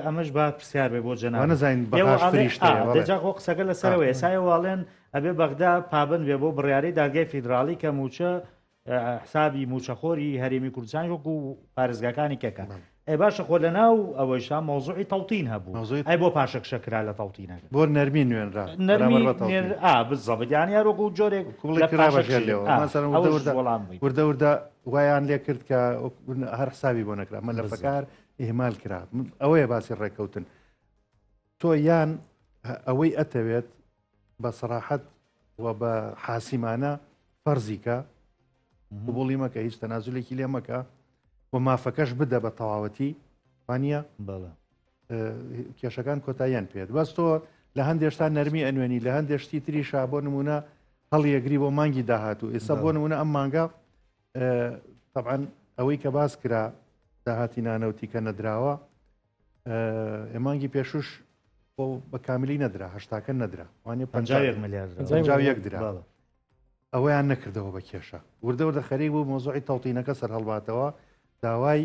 [SPEAKER 1] ئەمەش با پرسیار بێ بۆ جەنانە زین
[SPEAKER 3] بەشتەوە قسەکە
[SPEAKER 1] لەسەرەوە ئێسای واڵێن ئەبێ بەغدا پابند بێ بۆ بڕیاری دادگای فیدراالی کە موچە حسابی موچەخۆری هەرێمی کوردستان وەکو پارێزگاکانی کەکە ئەی باشە خۆ لەناو ئەوەیشا مەوزوعی تەوتین هەبوو مەوزوعی ئەی بۆ پاشەکشە کرا لە تەوتینەکە. بۆ نەرمی نوێنرا
[SPEAKER 3] نەرمی بەرامبەر بە تەوتین. نێر ئا
[SPEAKER 1] بالزەبط یانی هەر وەکوو جۆرێک کوڵی لە کرا بە ژێر پاشەکشەی لێوە ئا مەسەلەن وردە ئەوەش وردە
[SPEAKER 3] وەڵام بووی وردە وردە وایان لێ کرد کە هەر حسابی بۆ نەکرا مەلەفەکە بالزەبط هەر ئیهمال کرا ئەوەیە باسی ڕێککەوتن. تۆ یان ئەوەی ئەتەوێت بە سەراحەت و بە حاسیمانە فەرزیکە قوبولی مەکە هیچ تەنازولێکی لێ مەکە و مافەکەش بدە بە تەواوەتی وانە بەڵە کێشەکان کۆتاییان پێت بەس تۆ لە هەندێشتا نەرمی ئەنوێنی لە هەندێشتی تری شا بۆ نمونە هەڵیەگری بۆ مانگی داهاتوو ئێستا بۆ نمونە ئەم مانگە طبعاان ئەوەی کە باس کرا داهاتی نانەوتی کە نەدراوە مانگی پێشوش بۆ بە کامیلی نەدرا هەشتاکە نەدرا وانە پ ملیار درا ئەوەیان نەکردەوە بە کێشە وردەوردە خەریک بوو مۆزۆی تەوتینەکە سەر هەڵباتەوە داوای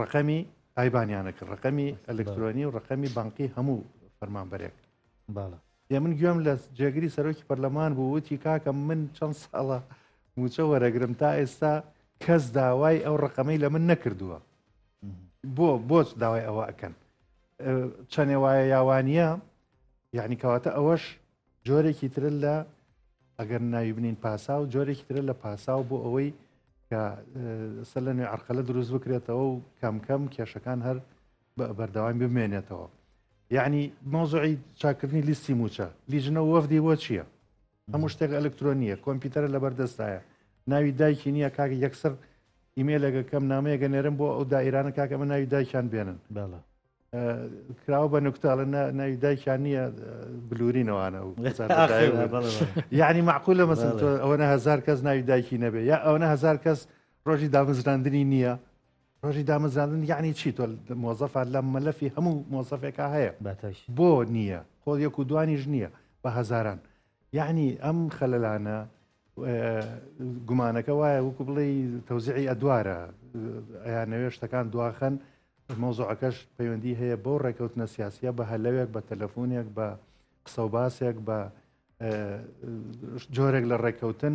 [SPEAKER 3] ڕقەمی ئایبانیانە کرد ڕقەمی ئەلکترۆنی و ڕقەمی بانقی هەموو فەرمانبەرێک باڵە دێ من گوێم لە جێگری سەرۆکی پەرلەمان بوو وتی کاکە من چەند ساڵە موچە وەرەگرم تا ئێستا کەس داوای ئەو ڕقەمەی لە من نەکردووە بۆ بۆچ داوای ئەوە ئەکەن چەنێ وایە یاوانە یعنی کەواتە ئەوەش جۆرێکی ترە لە ئەگەر ناوی بنین پاسا و جۆرێکی ترە لە پاسا و بۆ ئەوەی کە سەر لە نوێ عرقەلە دروست بکرێتەوە و کەم کەم کێشەکان هەر بەردەوام بمێنێتەوە یعنی مۆزعی چاکردنی لیستی موچە لیژنە وەفدی بۆ چییە هەموو شتێک ئەلکترۆنیە کۆمپیوتەرە لەبەر دەستایە ناوی دایکی نییە کاک یەکسەر ئیمێلێکە کەم نامەیەگە نێرم بۆ ئەو دایرانە کاک ئەمە ناوی دایکیان بێنن بەڵە کراوە بە نکتاڵە ناوی دایکیان نییە بلورینەوەانە و یعنی معقول لە مەسن ئەوەنە هزار کەس ناوی دایکی نەبێ یا ئەوەنە هزار کەس ڕۆژی دامەزراندنی نییە ڕۆژی دامەزراندن یعنی چی تۆ مۆزەفە لە مەلەفی هەموو مۆزەفێکا هەیە باتاش بۆ نییە خۆ یەک و دوانیش نییە بە هەزاران یعنی ئەم خەلەلانە گومانەکە وایە وەکو بڵێ تەوزعی ئەدوارە ئەیان نەوێ شتەکان دواخەن مۆزۆعەکەش پەیوەندی هەیە بۆ ڕێکەوتنە سیاسە بە هەلەوێک بە تەلەفۆنێک بە قسە و باسێک بە جۆرێک لە ڕێکەوتن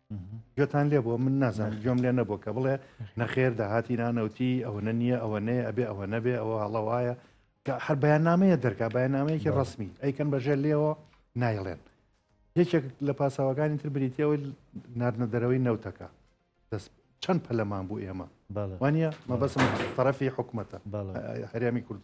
[SPEAKER 3] گوێتان لێ بۆ من نازانم گوێم لێ نەبوو کە بڵێ نەخێر داهاتی نانەوتی ئەوەنە نییە ئەوە نەیە ئەبێ ئەوە نەبێ ئەوە هەڵەوایە کە هەر بەیاننامەیە دەرکا بەیاننامەیەکی ڕسمی ئەیکەن بەژێ لێەوە نایڵێن یەکێک لە پاساوەکانی تر بریتەوەی نردە دەرەوەی نەوتەکە دەست چەند پەلەمان بوو ئێمە وانە مەبەسم تەرەفی حکوومەتە هەرێمی کورد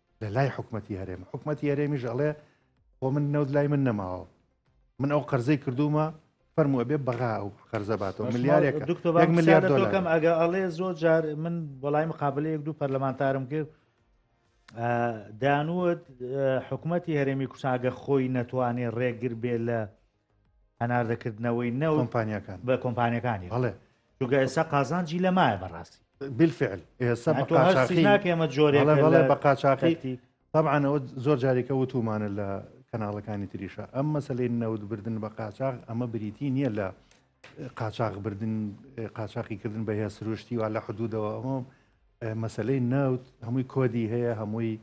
[SPEAKER 3] لە لای حکوومەتتی هەرێم حکوومەتتی هەرێمیش ئەڵێ بۆ من نەوت لای من نەماوە من ئەو قەرزەی کردومە فەرمو ئەبێ بەغا ئەو قەرزە باتەوە ملیارێک ملیار دۆکەم ئەگە ئەڵێ
[SPEAKER 1] زۆر جار من بەڵای مقابل یەک دوو پەرلەمانتارم کرد دانوت حکوومەتتی هەرێمی کوشاگە خۆی نەتوانێ ڕێگر بێ لە هەناردەکردنەوەی نەوت کۆمپانیاکان بە
[SPEAKER 3] کۆمپانیەکانی
[SPEAKER 1] بەڵێ چونکە ئێستا قازانجی لە مایە بەڕاستی بالفعل
[SPEAKER 3] ئێستا بە قاچاخی ناکەمە
[SPEAKER 1] جۆرێ بەڵێ بەڵێ بە
[SPEAKER 3] قاچاخی طبعاەوە زۆر جارێکە وتومانە لە کەناڵەکانی تریشە ئەم مەسلەی نەوت بردن بە قاچاخ ئەمە بریتی نییە لە قاچاخ بردن قاچاقی کردن بە هەیە سروشتی و لە حدودەوە ئەمە مەسلەی نەوت هەمووی کۆدی هەیە هەمووی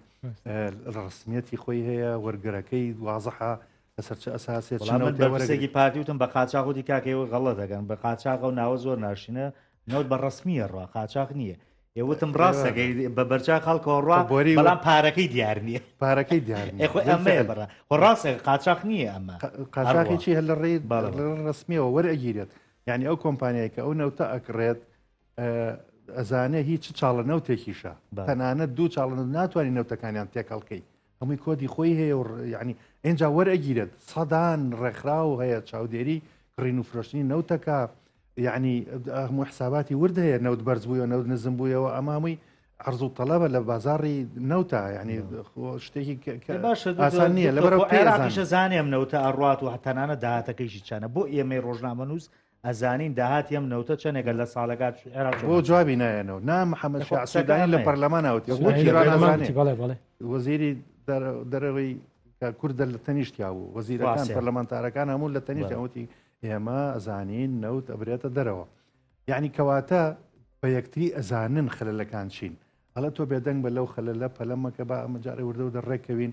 [SPEAKER 3] ڕسمیەتی خۆی هەیە وەرگەرەکەی وازەحە لەسەر چ ئەساسێ چ نەوتێ وەرەگرێ؟ پرسێکی پارتی وتم بە
[SPEAKER 1] قاچاخ وتی کاکە ئێوە غەڵەت دەکەن بە قاچاخ ئەو ناوە زۆر ناشینە نەوت بە ڕسمیە ڕا قاچاخ نییە ئێ وتم ڕاستەکەی بە بەرچا خەڵکەوە ڕا بۆری بەڵام پارەکەی دیار نییە پارەکەی دیار
[SPEAKER 3] ئێخۆ ئەمەیە بڕە
[SPEAKER 1] خۆ ڕاستێک قاچاخ نییە ئەمە قاچاخی چی هەر لە
[SPEAKER 3] ڕێی ڕسمیەوە وەرەگیرێت یعنی ئەو کۆمپانیای کە ئەو نەوتە ئەکڕێت ئەزانێ هیچ چاڵە نەوتێکیشە تەنانەت دوو چاڵن ناتوانانی نەوتەکانیان تێکەڵکەی هەمووی کۆدی خۆی هەیە و یعنی ئێنجا وەرەگیرێت سەدان ڕێکخراو هەیە چاودێری کڕین و فرۆشتنی نەوتەکە یعنی هەموو حساباتی ورد هەیە نەوت بەرز بووە نەوت نزم بوویەوە ئەمامووی عرض و طلبە لە بازاری نەوتا ینی شتێکی ئاسان نییە لە بەرەوشە زانێم
[SPEAKER 1] نەوتە ئەڕات و هەتانانە داهاتەکەیشی چانە بۆ ئێمەی ڕۆژنامەنووس ئەزانین داهاتی ئەم نەوتە چەنێکە لە ساڵێکا عێراق چۆن بۆ جوابی نایەنەوە
[SPEAKER 3] نا محەمەد شیاع سودانی لە پەرلەمانا وتی وەک ئیران نازانێ بەڵێ بەڵێ وەزیری دەرەوەی کوردە لە تەنیشتیا بوو وەزیرەکان پەرلەمانتارەکان هەموو لە تەنیشتیان وتی ئێمە ئەزانین نەوت ئەبرێتە دەرەوە یعنی کەواتە بە یەکتری ئەزانن خەلەکان چین هەڵە تۆ بێدەنگ بە لەو خەلە لە پەلەمەکە بە ئەمەجارە وردە دە ڕێکەوین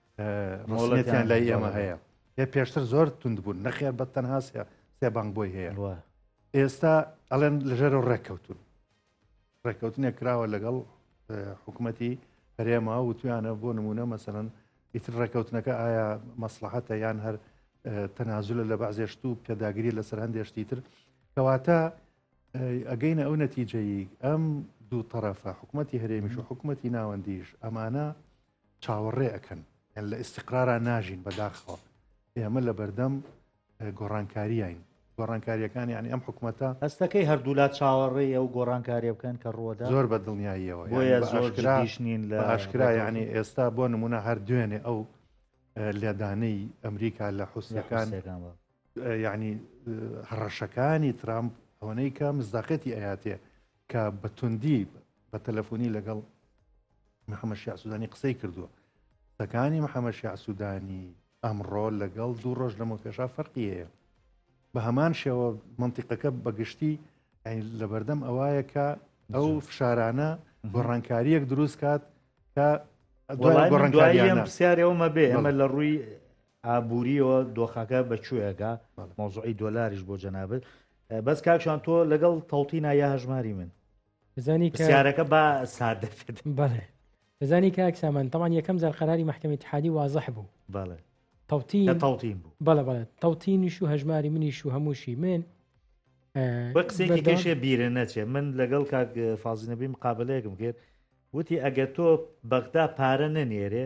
[SPEAKER 3] مۆڵەتیان لای ئێمە هەیە هێ پێشتر زۆر توند بوون نەخێر بە تەنها سێ بانگ بۆی هەیە ئێستا ئەڵێن لەژێر و ڕێککەوتون ڕێککەوتنێک کراوە لەگەڵ حکوومەتی هەرێما و تویانە بۆ نمونە مەسەن ئیتر ڕێککەوتنەکە ئایا مەسلحەتە یان هەر تەنازلە لە بەعزێشت و پێداگری لەسەر هەندێشتی تر کەواتە ئەگەینە ئەو نەتیجەیی ئەم دوو طرفە حکوومەتتی هەرێمیش و حکوومەتتی ناوەندیش ئەمانە چاوەڕێ ئەکەن یان لە ئیسیقرارا ناژین بەداخەوە ئێمە لە بەردەم گۆڕانکاریین گۆڕانکاریەکان یعنی ئەم حکوومەتە هەستەکەی هەردوولا
[SPEAKER 1] چاوەڕێ ئەو گۆڕانکاریە بکەن کە ڕۆدا زۆر بە دڵنیاییەوە
[SPEAKER 3] زۆرش
[SPEAKER 1] نین لە ئاشکرا یعنی ئێستا
[SPEAKER 3] بۆ نمونە هەر دوێنێ ئەو لێدانەی ئەمریکا لە حوسەکان یعنی هەڕەشەکانی ترامپ ئەوەنەی کە مزداقەتی ئەیاتێ کە بە توندی بە تەلەفۆنی لەگەڵ محەممەد شیع سوودانی قسەی کردووە قسەکانی محەممەد شیع سوودانی ئەمڕۆ لەگەڵ دوو ڕۆژ لەمە پێشا فەرقی هەیە بە هەمان شێوە منتیقەکە بەگشتی لە بەردەم ئەوایە کە ئەو فشارانە گۆڕانکاریەک دروست کات کە دوای گۆڕانکاریان
[SPEAKER 1] پرسیارەوەمە بێ ئەمە لە ڕووی ئابوریەوە دۆخەکە بە کوێگا مەوزوعی دۆلاریش بۆ جەنابێت بەس کاکشان تۆ لەگەڵ تەوتینا یا هەژماری من بزانی
[SPEAKER 2] کارەکە با
[SPEAKER 1] سادە بەڵێ
[SPEAKER 2] بزانی کاک سامان تەمان یەکەم جار قەراری محکمە تحادی وازح بوو بەڵێ
[SPEAKER 1] تەوتین
[SPEAKER 2] تەوتین بوو بەڵە
[SPEAKER 1] بەڵێت تەوتینیش
[SPEAKER 2] و هەژماری منیش و هەمووشی من
[SPEAKER 1] قسێکیشێ بیرە نەچێ من لەگەڵ کاک فازینەبی مقابلەیەکم کرد وتی ئەگەر تۆ بەغدا پارە نەنێرێ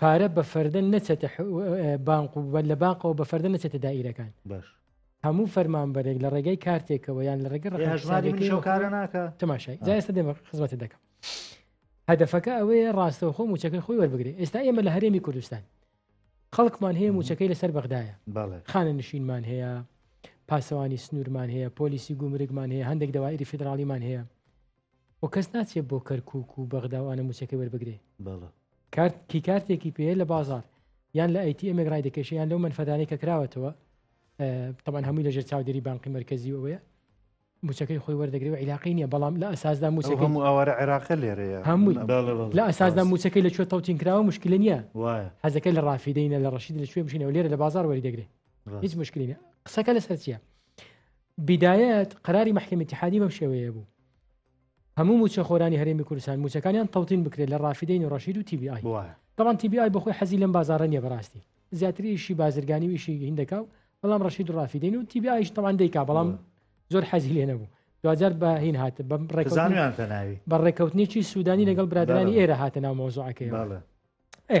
[SPEAKER 2] پارە بە فەردە نەچێتە بانق و لە بانقەوە بە فەردە نەچێتە دائیرەکان باش
[SPEAKER 1] هەموو
[SPEAKER 2] فەرمانبەرێک لە ڕێگەی کارتێکەوە یان لە ڕێگە ڕێژماریشکارە ناکە
[SPEAKER 1] تەماشای جاێستا دێمە
[SPEAKER 2] خزمەتە دەکەم هەدفەکە ئەوەیە ڕاستەوە خۆ موچەکەی خۆی وەربگرێت ئێستا ئێمە لە هەرێمی کوردستان خەڵکمان هەیە موچەکەی لەسەر بەغدایە خانە نشینمان هەیە پاسەوانی سنوورمان هەیە پۆلیسی گومرگمان هەیە هەندێک داوایری فیدراالیمان هەیە وە کەس ناچێت بۆ کەرکک و بەغدا وانە موچەکەی وەربگرێ بەڵە کارت کی کارتێکی پێ لە بازار یان لە ئەیتی ئەمێک ڕای دەکەشیان لەو منفەدانەی کە کراوەتەوە تەبان هەمووی لەژێر چاودێری بانقی مرکزی ئەوەیە موچەکەی خۆی وەردەگری و عیلاقی نیە بەڵام لە ئەساسدا موچەکە هەموو ئاوارە عێراقە
[SPEAKER 3] لێرەیە هەمووی لە
[SPEAKER 2] ئەساسدا موچەکەی لە کوێ تەوتین کراوە مشکلی نیە حەزەکە لە ڕافیدەینە لە ڕەشید لە شوێ بشینەوە لێرە لە بازار وەری دەگرێت هیچ مشکلینە قسەکە لەسەر چیە بداەت قەراری مەحکەمی ئیتیحادی بەم شێوەیە بوو هەموو موچەخۆرانی هەرێمی کوردستان موچەکانیان تەوتین بکرێت لە ڕافیدەی نوڕەشید و تی بی ئای دەڵان تی بی ئای بەخۆی حەزی لەم بازاڕە نیە بەڕاستی زیاتریشی بازرگانی ویشی هیندەکە و بەڵام ڕەشید ڕافیدەین و تی بی ئایش تەوان دەیکا بەڵام زۆر حەزی لێ نەبوو دوجار بە هین هات بە ڕێکزانیان تەناوی بە ڕێککەوتنیی سوودانی لەگەڵ برادرانی ئێرە هاتە ناو مۆزوعەکەی ئێ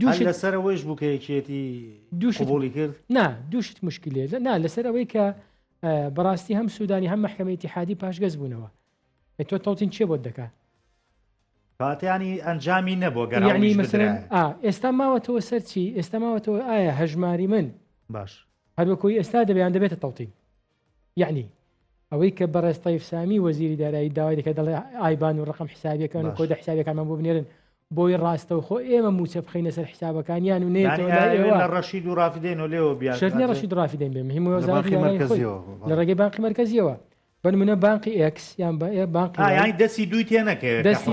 [SPEAKER 2] دووش
[SPEAKER 1] لەسەر ئەوەیش بوو کە یەکێتی دووشبولی کرد نا دووشت مشکلێ
[SPEAKER 2] نا لەسەر ئەوەی کە بەڕاستی هەم سوودانی هەم محکمەتی حادی پاشگەز بوونەوە تۆ تەوتین چێ بۆت دەکات
[SPEAKER 1] پاتیانی ئەنجامی نەبوو گەرانی مەسەرە
[SPEAKER 2] ئێستا ماوەتەوە سەرچی ئێستا ماوەتەوە ئایا هەژماری من باش
[SPEAKER 1] هەروەکۆی ئێستا
[SPEAKER 2] دەبیان دەبێتە تەوتین یعنی ئەوەی کە بەڕێز تەیف سامی وەزیری دارایی داوای دەکە دەڵێ ئایبان و ڕقم حسابەکان و کۆدە حسابەکانمان بۆ بنێرن بۆی ڕاستەو خۆ ئێمە موچە بخینە سەر حسابەکانیان و
[SPEAKER 1] نێتەوە ڕەشید و ڕافدەین و
[SPEAKER 2] لێەوە بیاێنە ڕەشید ڕافدەین بێ مهم لە ڕێگەی بانقی مرکزیەوە بنمونە بانقی ئەکس یان بانقی دەستی دوی
[SPEAKER 1] تێنەکە دەستی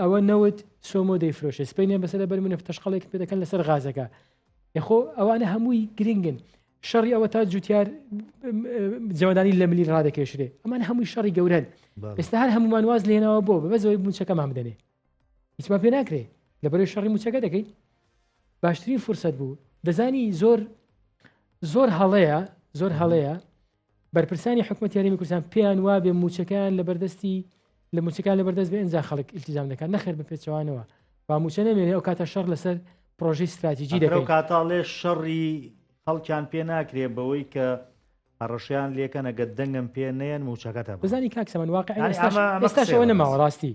[SPEAKER 2] ئەوە نەوت سۆمۆ دەیفرۆشێ سپینیان بەسەر بەر منە تەشقلێک پێ دەکەن لەسەر غازەکە یخۆ ئەوانە هەمووی گرنگن شەڕی ئەوە تا جوتیار جەوەدانی لە ملی ڕادەکێشرێ ئەمان هەمووی شەڕی گەورن ئێستا هەر هەمومان واز لێنەوە بۆ بە بەزەوەی موچەکەمان بدەنێ هیچمان پێ ناکرێ لە بەرەی شەڕی موچەکە دەکەین باشترین فرسەت بوو دەزانی زۆر زۆر هەڵەیە زۆر هەڵەیە بەرپرسانی حکومەت یاریمی کوردستان پێیان وابێ موچەکان لە بەردەستی لە موچەکان لە بەردەست بە ئەجا خەڵک التزام دەکات نەخێر بە پێچوانەوە با موچە نەمێنێ ئەو کاتە شەڕ لەسەر پرۆژی استراتیجی دەکەو کاتاڵێ شەڕی
[SPEAKER 1] خەڵکیان پێ ناکرێ بەوەی کە هەڕەشیان لەکەنەگە دەنگم پێ نەیەن موچەکەتە بزانانی کاکسەمەوە
[SPEAKER 2] نەماوە ڕاستی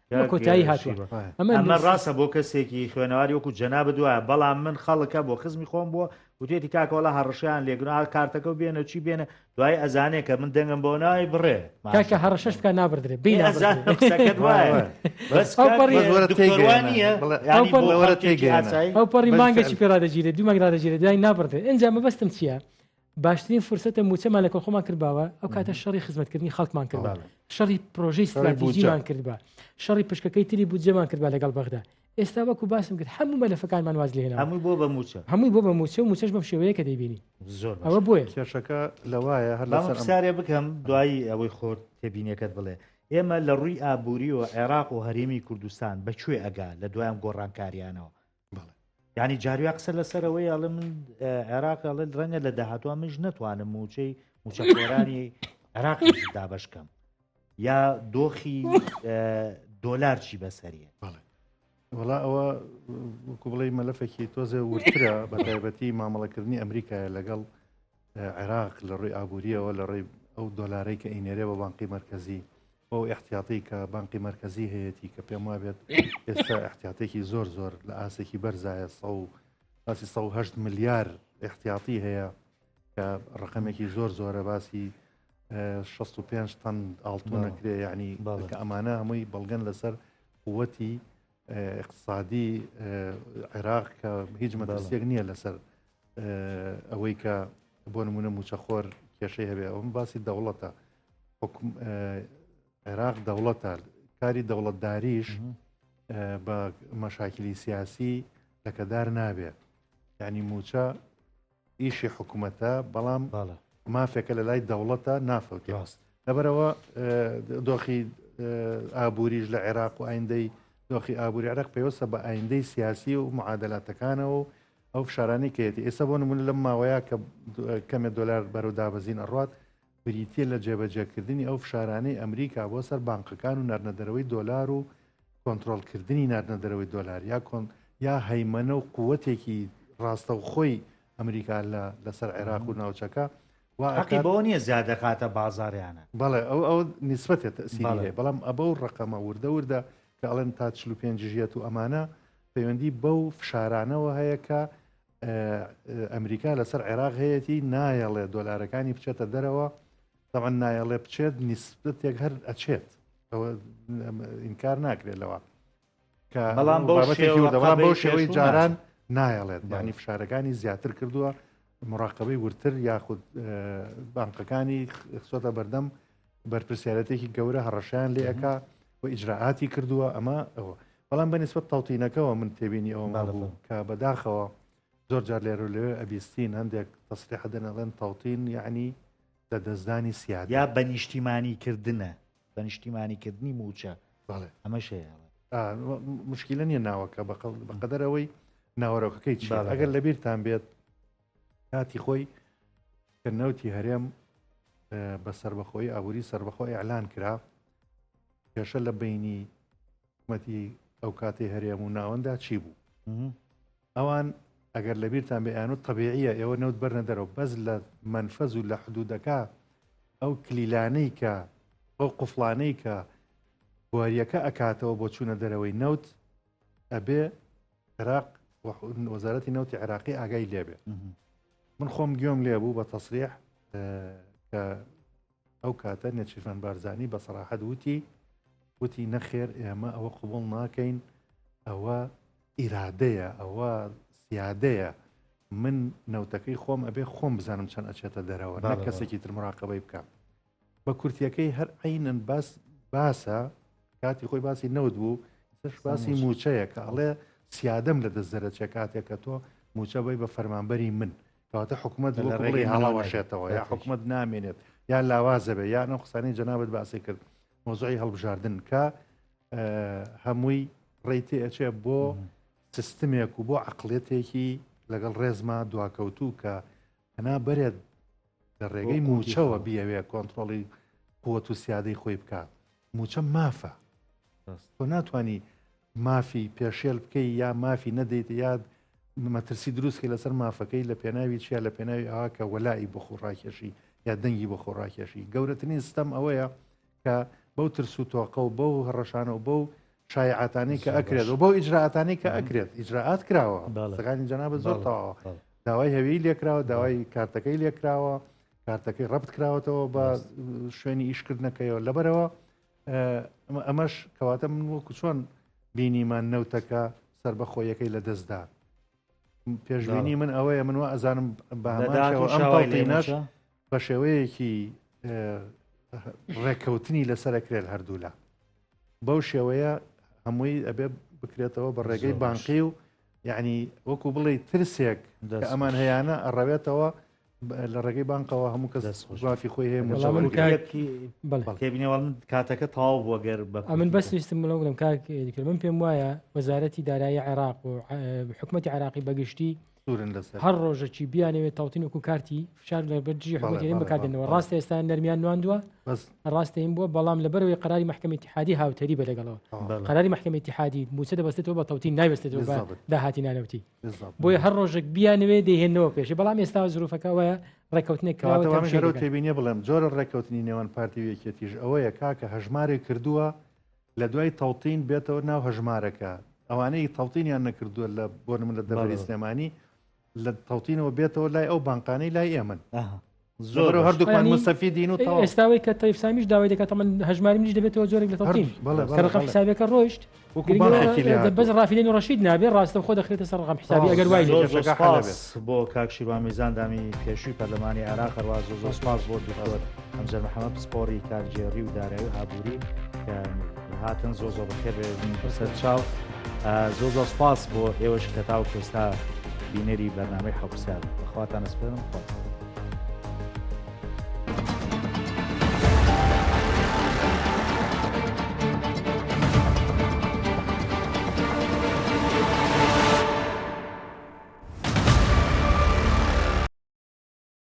[SPEAKER 2] بە کۆتایی هاتووە ئەمە ڕاستە
[SPEAKER 1] بۆ کەسێکی خوێنەواری وەکو جەنابە دوایە بەڵام من خەڵکە بۆ خزمی خۆم بووە وتێتی کاکەوەڵا هەڕشیان لێگرنا کارتەکە و بێنە چی بێنە دوای ئەزانێ کە من دەنگم بۆ ناوی بڕێ کاکە هەڕشش بکە
[SPEAKER 2] نابدرێ ئەو پەڕی مانگەشی پێرادەگیرێت دوو مەگرادەگیرێت دوای نابڕێ ئەنجام مەبەستم چییە؟ باشترین فرسەتە موچەمان لە کۆخۆمان کردباوە ئەو کاتە شەڕی خزمەتکردنی خەڵکمان کرد شەڕی پرۆژەی ستراتیژیمان کردبا شەڕی پشکەکەی تری بودجەمان کردبا لەگەڵ بەغدا ئێستا وەکو باسم کرد هەموو مەلەفەکانمان واز لێنەوە هەموو بۆ بە موچە هەمووی
[SPEAKER 1] بۆ بە موچە و موچەش
[SPEAKER 2] بەم شێوەیە کە دەیبینی زۆر ئەوە بۆیە
[SPEAKER 1] کێشەکە
[SPEAKER 2] لەوایە
[SPEAKER 3] هەر سارێ بکەم
[SPEAKER 1] دوایی ئەوەی خۆت تێبینەکەت بڵێ ئێمە لە ڕووی ئابووری و عێراق و هەرێمی کوردستان بەکوێ ئەگا لە دوایان گۆڕانکاریانەوە ینی جارویا قسە لەسەرەوەی ئەڵێ من عێراق ئەڵێ ڕەنگە لە داهاتوە منش نتوانم موچەی موچەخۆرانی عێراق دابش بکەم یا دۆخی دۆلار چی بەسەریە وڵا
[SPEAKER 3] ئەوە وەکو بڵێ مەلەفێکی تۆزێ ورترە بە تایبەتی مامەڵەکردنی ئەمریکایە لەگەڵ عێراق لە ڕووی ئابوورییەوە لە ڕێی ئەو دۆلارەی کە ئەینێرێ بە بانقی مەرکەزی بۆ احتیاطی کە بانقی مەرکەزی هەیەی کە پێم وابێت ئێستا احتیااتێکی زۆر زۆر لە ئاسێکی بەرزایە سە و باسی 1970 ملیار احتیااتی هەیە کە ڕقمێکی زۆر زۆرە باسی 65 تەن ئاڵتونەکرێ یعنی باڵکە ئەمانە هەمووی بەڵگەن لەسەر قوەتی اقتصادی عێراق کە هیچ مەدەسیەک نییە لەسەر ئەوەی کە بۆ نمونە موچەخۆر کێشەی هەبێ ئەوم باسی دەوڵەتە عێراق دەوڵەتە کاری دەوڵەتداریش بە مەشاکلی سیاسی لەکەدار نابێت ینی موچە ئیشی حکوومەتە بەڵام مافێکە لە لای دەوڵەتە نافەوتی ڕاست لەبەرەوە دۆخی ئابووریش لە عێراق و ئایندەی دۆخی ئابووری عراق پێوەسە بە ئایندەی سیاسی و معادلاتەکانەوە و ئەو فشارانی کەێتی ئێستا بۆ نمونە لەم ماوەیە کە کەمێ دلار بەرەو دابەزین ئەڕات بریتییە لە جێبەجێکردنی ئەو فشارانەی ئەمریکا بۆ سەر بانقەکان و ناردنەدەرەوەی دۆلار و کۆنترۆڵکردنی ناردنەدەرەوەی دۆلار یا کۆن یا هەیمەنە و قووەتێکی ڕاستەوخۆی ئەمریکا لە لەسەر عێراق و ناوچەکە واقی بەوە
[SPEAKER 1] نییە زیادەکاتە بازاریانە بەڵێ ئەو ئەو
[SPEAKER 3] نسبەتێت سیری بەڵام ئەبە و ڕقەمە وردە وردە کە ئەڵێن تا چلو پێنجژیەت و ئەمانە پەیوەندی بەو فشارانەوە هەیە کە ئەمریکا لەسەر عێراق هەیەی نایەڵێ دۆلارەکانی بچێتە دەرەوە دەوان نایەڵێ بچێت نیسبەتێک هەر ئەچێت ئینکار ناکرێت لەوە بەڵام
[SPEAKER 1] بەو
[SPEAKER 3] شێوەی جاران نایەڵێت بانی فشارەکانی زیاتر کردووە مراقبەی ورتر یاخود بانقەکانی خسۆتە بەردەم بەرپرسیارەتێکی گەورە هەڕەشەیان لێ ئەکا و ئیجرراعاتی کردووە ئەمە ئەوە بەڵام بەنیسبەت تەوتینەکەەوە من تێبینی ئەوە ماڵبوو کە بەداخەوە زۆر جار لێرو لەوێ ئەبیستین هەندێک تەسریح دەنەڵێن تەوتین یعنی لە دەستدانی سیاد یا بە نیشتیمانی
[SPEAKER 1] کردنە بە نیشتیمانی کردنی موچە ئەمە شەیە مشکلە
[SPEAKER 3] نیە ناوەکە بەقەدەرەوەی ناوەرۆکەکەی چ ئەگەر لەبیرتان بێت کاتی خۆی کە نەوتی هەرێم بە سربەخۆی ئابووری سربەخۆ ئەعلان کرا کێشە لە بینی حکومەتی ئەو کاتی هەرێم و ناوەندا چی بوو ئەوان ئەگەر لە بیرتان بێیان و طببیعە ئێوە نەوت بەرنە دەرەوە بەس لە منفەز و لە حدودەکە ئەو کلیلانەی کە ئەو قفلانەی کە بواریەکە ئەکاتەوە بۆ چوونە دەرەوەی نەوت ئەبێ عێراق وەزارەتی نەوتی عێراقی ئاگای لێبێ من خۆم گوێم لێ بوو بە تەسریح کە ئەو کاتە نێچیرفان بارزانانی بە سەراحەت وتی وتی نەخێر ئێمە ئەوە قوبڵ ناکەین ئەوە ئیرادەیە ئەوە سیادەیە من نەوتەکەی خۆم ئەبێ خۆم بزانم چەند ئەچێتە دەرەوە نە کەسێکی ترمراقەبەی بکەم بە کورتیەکەی هەر عینەن باس باسە کاتی خۆی باسی نەوت بوو سش باسی موچەیە کە ئەڵێ سیادەم لە دەست زەرەچە کاتێک کە تۆ موچە بی بە فەرمانبەری من کەواتە حکوومەت ڕێگەی هەڵاوەشێتەوە یا حکوومەت نامێنێت یا لاوازەبێ یان ئەو قسانی جەنابەت باسی کرد مۆزعی هەڵبژاردن کە هەمووی ڕێتی ئەچێ بۆ سیستمێک و بۆ عقلێتێکی لەگەڵ ڕێزما دواکەوتوو کە هەنا بەرێت لە ڕێگەی موچەوە بیاوێ کۆنتترۆڵی قوت و سیادەی خۆی بکات موچە مافە تۆ ناتانی مافی پێشێل بکەی یا مافی نەدەیت یاد مەترسی دروستکە لەسەر مافەکەی لە پێناوی چیا لە پێناوی ئاکە وەلایی بۆ خۆڕاکێشی یا دەنگی بۆ خۆڕاکێشی گەورەترین ستەم ئەوەیە کە بەو ترس و تۆقە و بەو هەڕەشانە و بەو شایعاتانەی کە ئەکرێت و بەو ئیجرراعاتانەی کە ئەکرێت ئیجرراعات کراوە سەکانی جەنا بە زۆر تاوە داوای هەویی لێکراوە داوای کارتەکەی لێکراوە کارتەکەی ڕبت کراوەتەوە بە شوێنی ئیشکردنەکەیەوە لەبەرەوە ئەمەش کەواتە من وەکو چۆن بینیمان نەوتەکە سربەخۆیەکەی لە دەستدا پێشبینی من ئەوەیە من وە ئەزانم بەداش بە شێوەیەکی ڕێککەوتنی لەسەرکرێت هەردوولا بەو شێوەیە هەمووی ئەبێ بکرێتەوە بە ڕێگەی بانقی و یعنی وەکو بڵێ ترسێک ئەمان هەیەە ئەڕەوێتەوە لە ڕێگەی بانقەوە هەموو کە دەسڕافی خۆی هەیە مزەڵکیبینەوەڵ
[SPEAKER 1] کاتەکە تاو بۆ گەر بە من بەسیستم بڵم
[SPEAKER 2] بڵم کاک من پێم وایە وەزارەتی دارایی عێراق و حکوومەتتی عراقی بەگشتی سوورن لەسەر هەر ڕۆژەکی بیانەوێت تاوتین وکو کارتی فشار لە بەر دژی حکومەتەکەین بکاتێنەوە ڕاستە ئێستا نەرمیان نواندووە بەس ڕاستەین بووە بەڵام لە بەرەوەی قراری محکمەی تحادی هاوتەری بە لەگەڵەوە قراری محکمەی تحادی موچە دەبستێتەوە بە تەوتین ناوێستێتەوە بە بالضبط داهاتی نانەوتی بالضبط بۆیە هەر ڕۆژێک بیانوێ دەهێنەوە پێشی بەڵام ئێستا زروفەکە وایە ڕێککەوتنێک کراوە کەواتە وا من تەمشێ گەرەو دەکەن
[SPEAKER 3] تێبینیە بڵێم جۆرە ڕێککەوتنی نێوان پارتی و یەکێتیش ئەوەیە کاکە هەژمارێک کردووە لە دوای تەوتین بێتەوە ناو هەژمارەکە ئەوانەی تەوتینیان نەکردووە لە بۆ من لە دەبەری سلێمانی لە تەوتینەوە بێتەوە لای ئەو بانقانەی لای ئێمن زۆر هەردووکان مستەفی دین و ئێستاوەی کە تەیفسامیش
[SPEAKER 2] داوای دەکات من هەژماری منیش دەبێتەوە زۆرێک لە تەوتین کەڕقم حسابەکە ڕۆیشت بەس ڕافیلێن و ڕشید نابێ ڕاستە خۆ دەخرێتە سەر ڕقم حسابی ئەگەر وای بۆ
[SPEAKER 1] کاکشی با میزاندامی پێشووی پەرلەمانی عراق ڕاز زۆر سپاس بۆ دکتۆر. ئەمجار محەممەد پسپۆڕی کارگێڕی و دارایی و ئابووری هاتن زۆ زۆ بەخێر بەسەر چاو زۆ زۆ سپاس بۆ ئێوەش کە تاو کوێستا بینەری بەرنامەی حەوسیار بەخواتان ئەسپێرم خۆت.